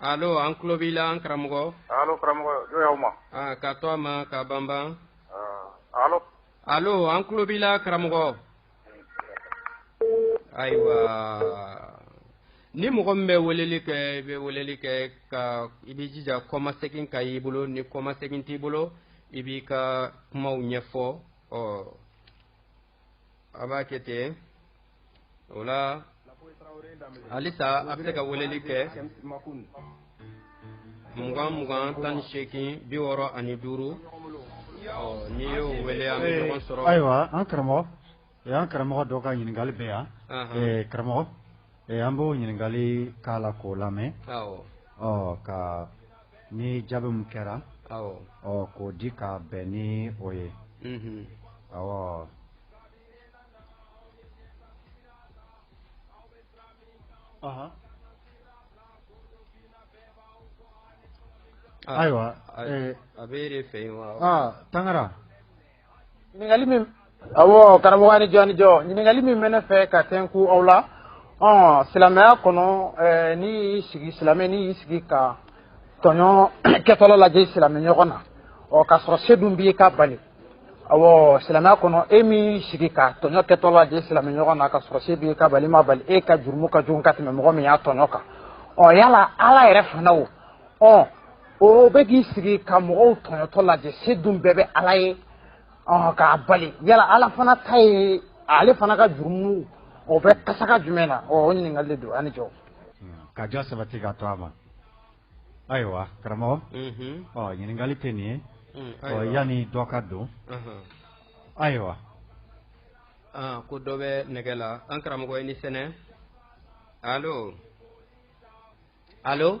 S12: Allo an tulo b'i la an karamɔgɔ. Allo karamɔgɔ
S13: n ye aw ma. Aa ka to a ma
S12: ka banban. Aa allo.
S13: Allo an tulo b'i
S12: la karamɔgɔ. Ayiwa ni mɔgɔ min bɛ weleli kɛ i bɛ weleli kɛ ka i b'i jija kɔmasegin ka y'i bolo ni kɔmasegin t'i bolo i b'i ka kumaw ɲɛfɔ ɔ. a b'a kɛ ten o la halisa a bɛ se ka weleli kɛ mugan mugan tan ni seegin biwɔɔrɔ ani duuru n'i y'o wele an bɛ ɲɔgɔn sɔrɔ ayiwa an
S2: karamɔgɔ o y'an karamɔgɔ dɔ ka ɲininkali bɛ yan karamɔgɔ an b'o ɲininkali k'a la k'o lamɛn ɔ ka ni jaabi min kɛra ɔ k'o di ka bɛn ni o ye ayiwa a bɛ
S12: fɛ yen wa tangara
S14: ɲininkali min awɔ karamɔgɔ a ni jɔ a ni jɔ ɲininkali min bɛ ne fɛ ka tɛnku aw la ɔ silamɛya kɔnɔ ɛɛ n'i y'i sigi silamɛ n'i y'i sigi ka tɔɲɔ kɛtɔlɔ lajɛ i silamɛ ɲɔgɔn na ɔ k'a sɔrɔ se dun b'i ye k'a bali awɔ silamɛya kɔnɔ e min y'i sigi ka tɔɲɔ kɛtɔlɔ lajɛ i silamɛ ɲɔgɔn na k'a sɔrɔ se b'i ye k'a bali i m'a bali e ka jurumu ka jugu ka tɛmɛ mɔgɔ min y'a tɔɲɔ kan ɔ yala ala yɛrɛ fana o ɔ o bɛ k'i sigi ka mɔgɔw tɔɲɔtɔ lajɛ se dun bɛɛ bɛ ala ye k'a bali yala ala fana ta ye ale fana ka jurumu o bɛ kasaka jumɛn na o ɲininkali de don a ni jɔ ka jɔ
S2: sabati ka to a ma ayiwa karamɔgɔ ɲininkali tɛ nin ye mm, yanni dɔ ka don ayiwa Ah,
S12: ko dɔ bɛ nɛgɛ la an karamɔgɔ i ni sɛnɛ alo alo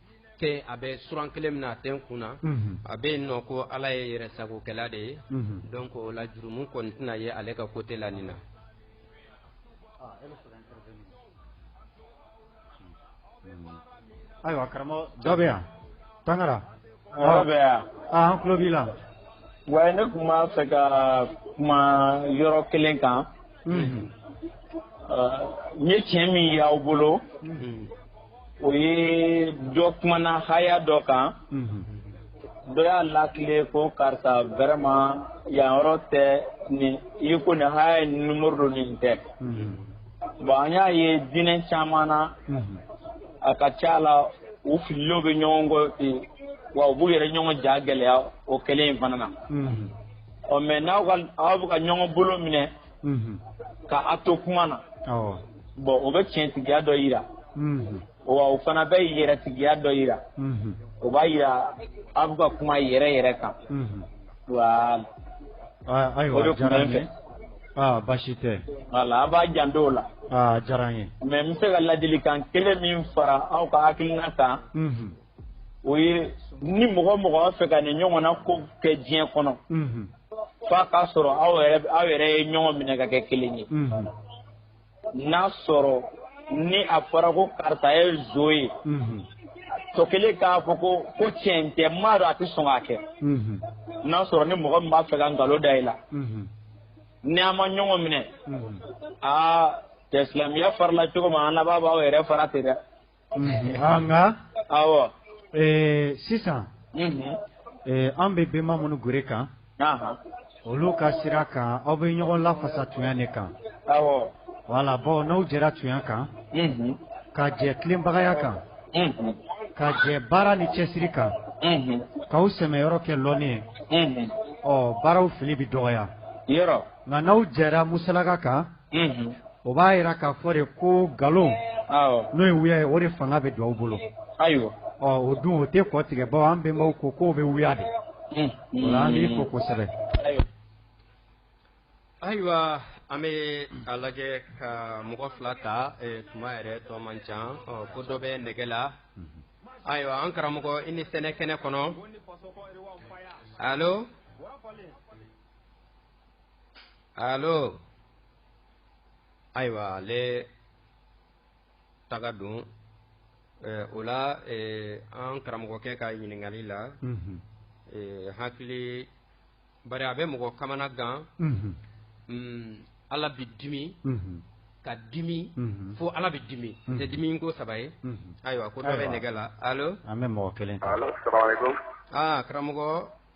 S12: tɛ a bɛ suran kelen min na a tɛ n kun na a bɛ yen nɔ ko ala ye yɛrɛ sagokɛla de ye donc o la jurumu kɔni tɛna ye ale ka côté la nin na
S2: ayiwa karamɔgɔ dɔ bɛ yan tangara dɔ
S15: bɛ yan an tulo b'i
S2: la wa ne
S15: tun b'a fɛ ka kuma yɔrɔ kelen kan n ye tiɲɛ min y'aw bolo o ye dɔ kumana haya dɔ kan dɔ y'a latilen ko karisa vraiment yan yɔrɔ tɛ nin i ko nin haya ye numéro don nin tɛ bon an y'a ye diinɛ caman na a ka ca la u fililenw bɛ ɲɔgɔn kɔ ten wa u b'u yɛrɛ ɲɔgɔn ja gɛlɛya o kɛlen in fana na ɔ mais n'aw aw bɛ ka ɲɔgɔn bolo minɛ ka a to kuma na bon o bɛ tiɲɛtigiya dɔ yira wa o fana bɛ yɛrɛtigiya dɔ yira o b'a yira aw bɛ ka kuma yɛrɛ yɛrɛ kan wa
S2: ayiwa o de tun bɛ n fɛ aa baasi tɛ voilà an
S15: b'a janto o la a diyara n ye
S2: mais n bɛ se ka ladilikan
S15: kelen min fara aw ka hakilina kan o ye ni mɔgɔ mɔgɔ b'a fɛ ka nin ɲɔgɔn na ko kɛ diɲɛ kɔnɔ f'a k'a sɔrɔ aw yɛrɛ ye ɲɔgɔn minɛ ka kɛ kelen ye n'a sɔrɔ ni a fɔra ko karisa ye zon ye tɔ kelen k'a fɔ ko ko tiɲɛ tɛ n m'a dɔn a tɛ sɔn k'a kɛ n'a sɔrɔ ni mɔgɔ min b'a fɛ ka nkalon da i la ni an ma ɲɔgɔn minɛ aa cɛ silamɛya farala cogo min an laban b'aw yɛrɛ fara ten dɛ
S2: Nka sisan an bɛ bɛnba minnu gere kan olu ka sira kan aw bɛ ɲɔgɔn lafasa tunya de kan wala bawo n'aw jɛra tunya kan ka jɛ tilenbagaya kan ka jɛ baara ni cɛsiri kan k'aw sɛmɛyɔrɔ kɛ lɔnni ye ɔ baaraw fili bɛ dɔgɔya nka n'aw jɛra musalaka kan o b'a jira k'a fɔ de ko nkalon n'o ye wuya ye o de fanga bɛ don aw bolo ayiwa o dun o tɛ kɔ tigɛ bawo an bɛnbaw ko k'o bɛ wuya de an b'i fo kosɛbɛ
S12: ayiwa an bɛ a lajɛ ka mɔgɔ fila ta tuma yɛrɛ tɔ man ca ko dɔ bɛ nɛgɛ la ayiwa an karamɔgɔ i ni sɛnɛ kɛnɛ kɔnɔ alo allo ayiwa ale taga don eh, o la eh, an karamɔgɔkɛ ka ɲininkali la mhm. eh, hakili bari a bɛ mɔgɔ kamana gan mhm. mm, ala bi dimi mhm. ka dimi mhm. fo ala bɛ dimi tɛ mhm. dimi ko saba ye mhm. ayiwa ko dɔ bɛ nɛgɛ la alo an bɛ mɔgɔ kelen
S13: ta ah, karamɔgɔ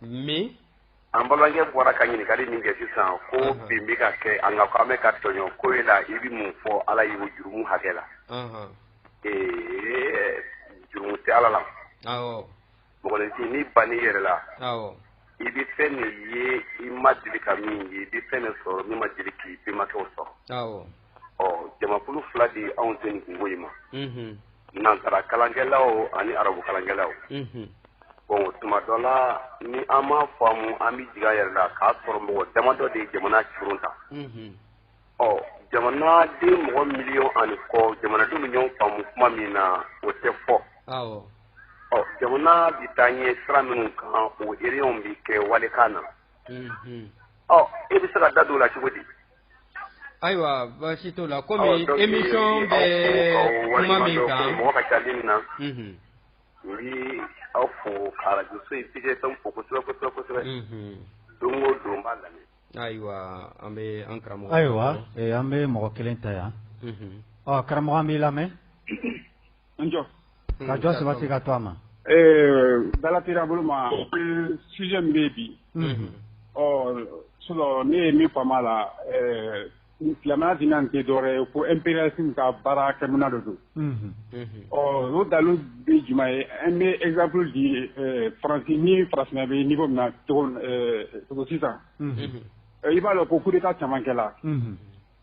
S12: min an
S13: balimakɛ bɔra ka ɲininkali min kɛ sisan ko bin bɛ ka kɛ an kan ko an bɛ ka tɔɲɔ ko e la i bɛ mun fɔ ala y'o jurumu hakɛ la ee jurumu tɛ ala la mɔgɔninfin ni banni yɛrɛ la i bɛ fɛn min ye i ma deli ka min ye i bɛ fɛn min sɔrɔ min ma deli k'i bɛnbakɛw sɔrɔ ɔ jamakulu fila de ye anw se nin kunko in ma nansara kalankɛlaw ani arabu kalankɛlaw bon tuma dɔ la ni an m'a faamu an bɛ jigi an yɛrɛ la k'a sɔrɔ mɔgɔ damadɔ de ye jamana curun ta ɔ jamanaden mɔgɔ miliyɔn ani kɔ jamanadenw bɛ ɲɔgɔn faamu kuma min na o tɛ fɔ ɔ jamana bɛ taa ɲɛ sira minnu kan o réunion bɛ kɛ walikan na ɔ e bɛ se ka da don o la cogo di
S12: Ayiwa baasi t'o la kɔmi émission bɛ kuma min kan
S13: n bɛ aw fo ka arajo fo kosɛbɛ kosɛbɛ don o don n b'a lamɛn
S12: ayiwa an bɛ an karamɔgɔ ayiwa an bɛ
S2: mɔgɔ kelen ta yan ɔ karamɔgɔ an b'i lamɛn
S16: Njɔ ka jɔ saba se
S2: ka to a ma ee dalafin
S16: bolo ma sij bɛ yen bi ɔ su ne ye min fa la silamɛya di tɛ dɔwɛrɛ ye ko epy ka baara kɛ mina de don ɔ o dalu bɛ juma ye an bɛ ezp di farafin ni faraf bɛ n'i ko na sisan i b'a dɔn ko kuru ka camankɛla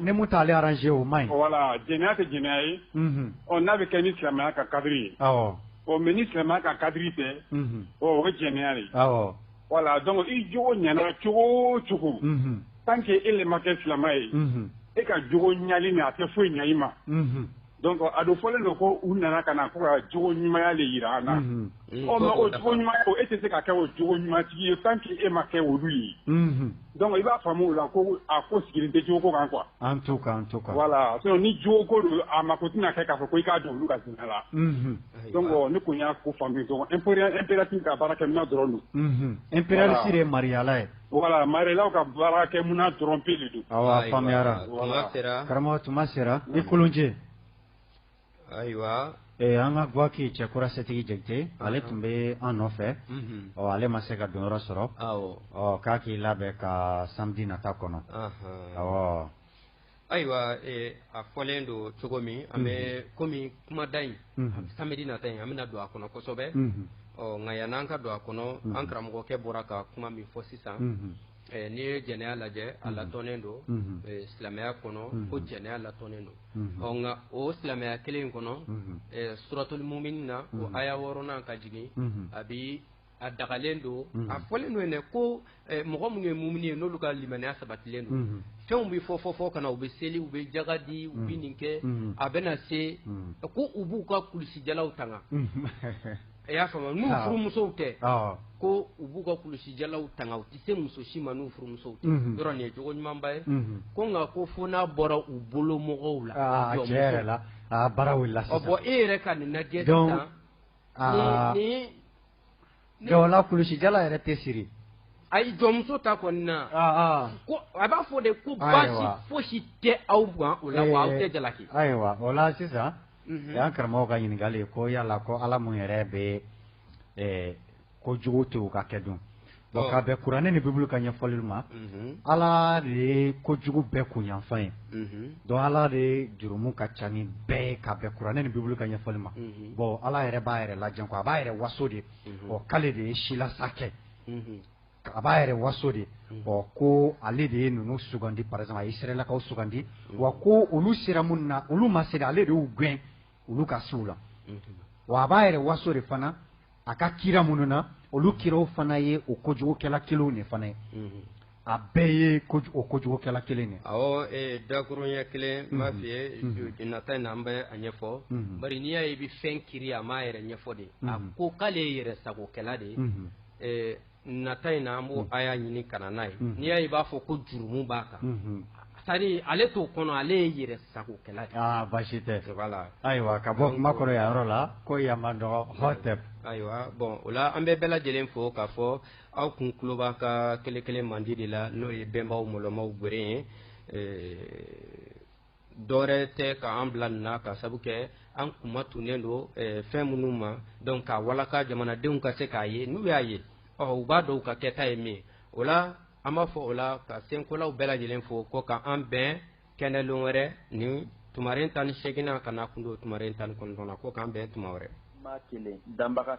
S2: nemu taale araz o ma wala j tɛ j
S16: ye ɔ n'a bɛ kɛ ni silamɛya ka kari ye ɔ mɛ ni silamɛya ka kari fɛ o bɛ jɛnɛya ye wala dɔn i j ɲ cogo cogo tan kɛ e le ma kɛ silamɛ ye e ka j ɲali min a tɛ foyi ɲayi ma Donc a dɔ fɔlen don ko u nana ka na ko ka jogo ɲumanya le yira an na o jogo ɲumanya o e tɛ se ka kɛ o jogo ɲumantigi ye tant que e ma kɛ olu ye donc i b'a faamu o la ko a ko sigilen tɛ jogo ko kan quoi en
S2: tout cas voilà sinon
S16: ni jogo ko don a mako tɛna kɛ k'a fɔ ko i ka don olu ka diina la donc ne kun y'a ko faamu impérialiste ka baarakɛminan dɔrɔn don impérialiste
S2: ye mariala ye Voilà marialaw
S16: ka baarakɛminan dɔrɔn pe de don awɔ
S2: faamuyara karamɔgɔ tuma sera i kolonjɛ ayiwa
S12: an ka Gwaki
S2: Cɛkura Setigi Jakite ale tun bɛ an nɔfɛ ɔ ale ma se ka donyɔrɔ sɔrɔ ɔ k'a k'i labɛn ka samedi nata kɔnɔ ɔ
S12: Ayiwa a fɔlen don cogo min an bɛ kɔmi kumada in samedi nata in an bɛna don a kɔnɔ kosɛbɛ ɔ nka yan'an ka don a kɔnɔ an karamɔgɔkɛ bɔra ka kuma min fɔ sisan n'i ye jɛnɛya lajɛ a latɔnen don silamɛya kɔnɔ ko jɛnɛya latɔnen don ɔ nka o silamɛya kelen in kɔnɔ suratul muminin na o aya wɔɔrɔnan ka jigin a bi a dagalen don a fɔlen don yen ko mɔgɔ minnu ye mumini ye n'olu ka limaniya sabatilen don fɛnw bɛ fɔ fɔ fɔ ka na u bɛ seli u bɛ jaga di u bɛ nin kɛ a bɛna se ko u b'u ka kulusijalaw tanga i y'a faamu n'u furumusow tɛ ko u b'u ka kulusijalaw tanga u tɛ se muso si ma n'u furumusow tɛ yɔrɔ nin ye jogo ɲumanba ye ko nka ko fo n'a bɔra u bolo mɔgɔw la
S2: la bon e yɛrɛ ka nin
S12: lajɛ Aa o la
S2: kulusijala yɛrɛ tɛ siri ayi jɔnmuso
S12: ta kɔni na ko a b'a fɔ de ko baasi foyi si tɛ aw kan o la wa aw tɛ jalaki ayiwa o la
S2: sisan yan karamɔgɔ ka ɲininkali ko yala ko ala mun yɛrɛ bɛ ko jugu to ka kɛ dun ka bɛn kuranɛ ni bibulu ka ɲɛfɔli ma ala de ye ko jugu bɛɛ kunyanfa ye donc ala de jurumu ka ca ni bɛɛ ye ka bɛn kuranɛ ni bibulu ka ɲɛfɔli ma bon ala yɛrɛ b'a yɛrɛ lajɛ ko a b'a yɛrɛ waso de k'ale de ye silasa kɛ a b'a yɛrɛ waso de ɔ ko ale de ye ninnu sugandi par exemple a ye Israɛlakaw sugandi wa ko olu sera minnu na olu ma se ale de y'u gɛn olu ka se la wa a b'a yɛrɛ waso de fana a ka kira minnu na olu kiraw fana ye o kojugukɛla kelenw de fana ye a bɛɛ ye o kojugukɛla kelen de awɔ ee dakurunɲɛ
S12: kelen n b'a f'i ye nata in na an bɛ a ɲɛfɔ bari n'i y'a ye i bɛ fɛn kiiri a m'a yɛrɛ ɲɛfɔ de a ko k'ale ye yɛrɛ sagokɛla de ye nata in na an b'o a y'a ɲini ka na n'a ye n'i y'a ye i b'a fɔ ko jurumu b'a kan sari ale t'o kɔnɔ ale ye yɛrɛ sagokɛla de baasi tɛ
S2: ayiwa ka bɔ kuma kɔrɔ yan yɔrɔ la ko yama dɔgɔ hɔ tɛ ayiwa
S12: bon o la an bɛ bɛɛ lajɛlen fo k'a fɔ aw kun tulo b'a ka kelen kelen mandi de la n'o ye bɛnbaw mɔlɔmaw gwere ye dɔwɛrɛ tɛ ka an bila nin na ka sabu kɛ an kuma tunnen don eh, fɛn minnu ma donc ka walaka jamanadenw ka se k'a ye n'u y'a ye ɔ u b'a dɔn u ka kɛta ye min o la an b'a fɔ o la ka senkolaw bɛɛ lajɛlen fo ko ka an bɛn kɛnɛlon wɛrɛ ni tumaren tan ni seeginnan ka na kun don tumaren tan ni kɔnɔntɔnnan ko k'an bɛn tuma wɛrɛ.
S17: danbaga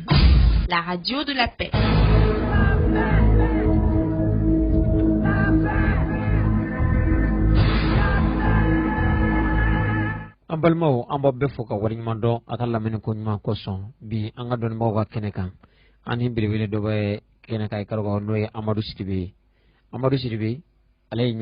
S18: La
S19: radio de la
S20: paix. an balimaw an b'a bɛɛ fo ka waleɲuman dɔn a ka lamɛnni ko ɲuman kosɔn bi an ka dɔnnibagaw ka kɛnɛ kan an ni belebele dɔ bɛ kɛnɛ kan i k'a dɔn n'o ye amadu sidibe ye amadu sidibe ale ye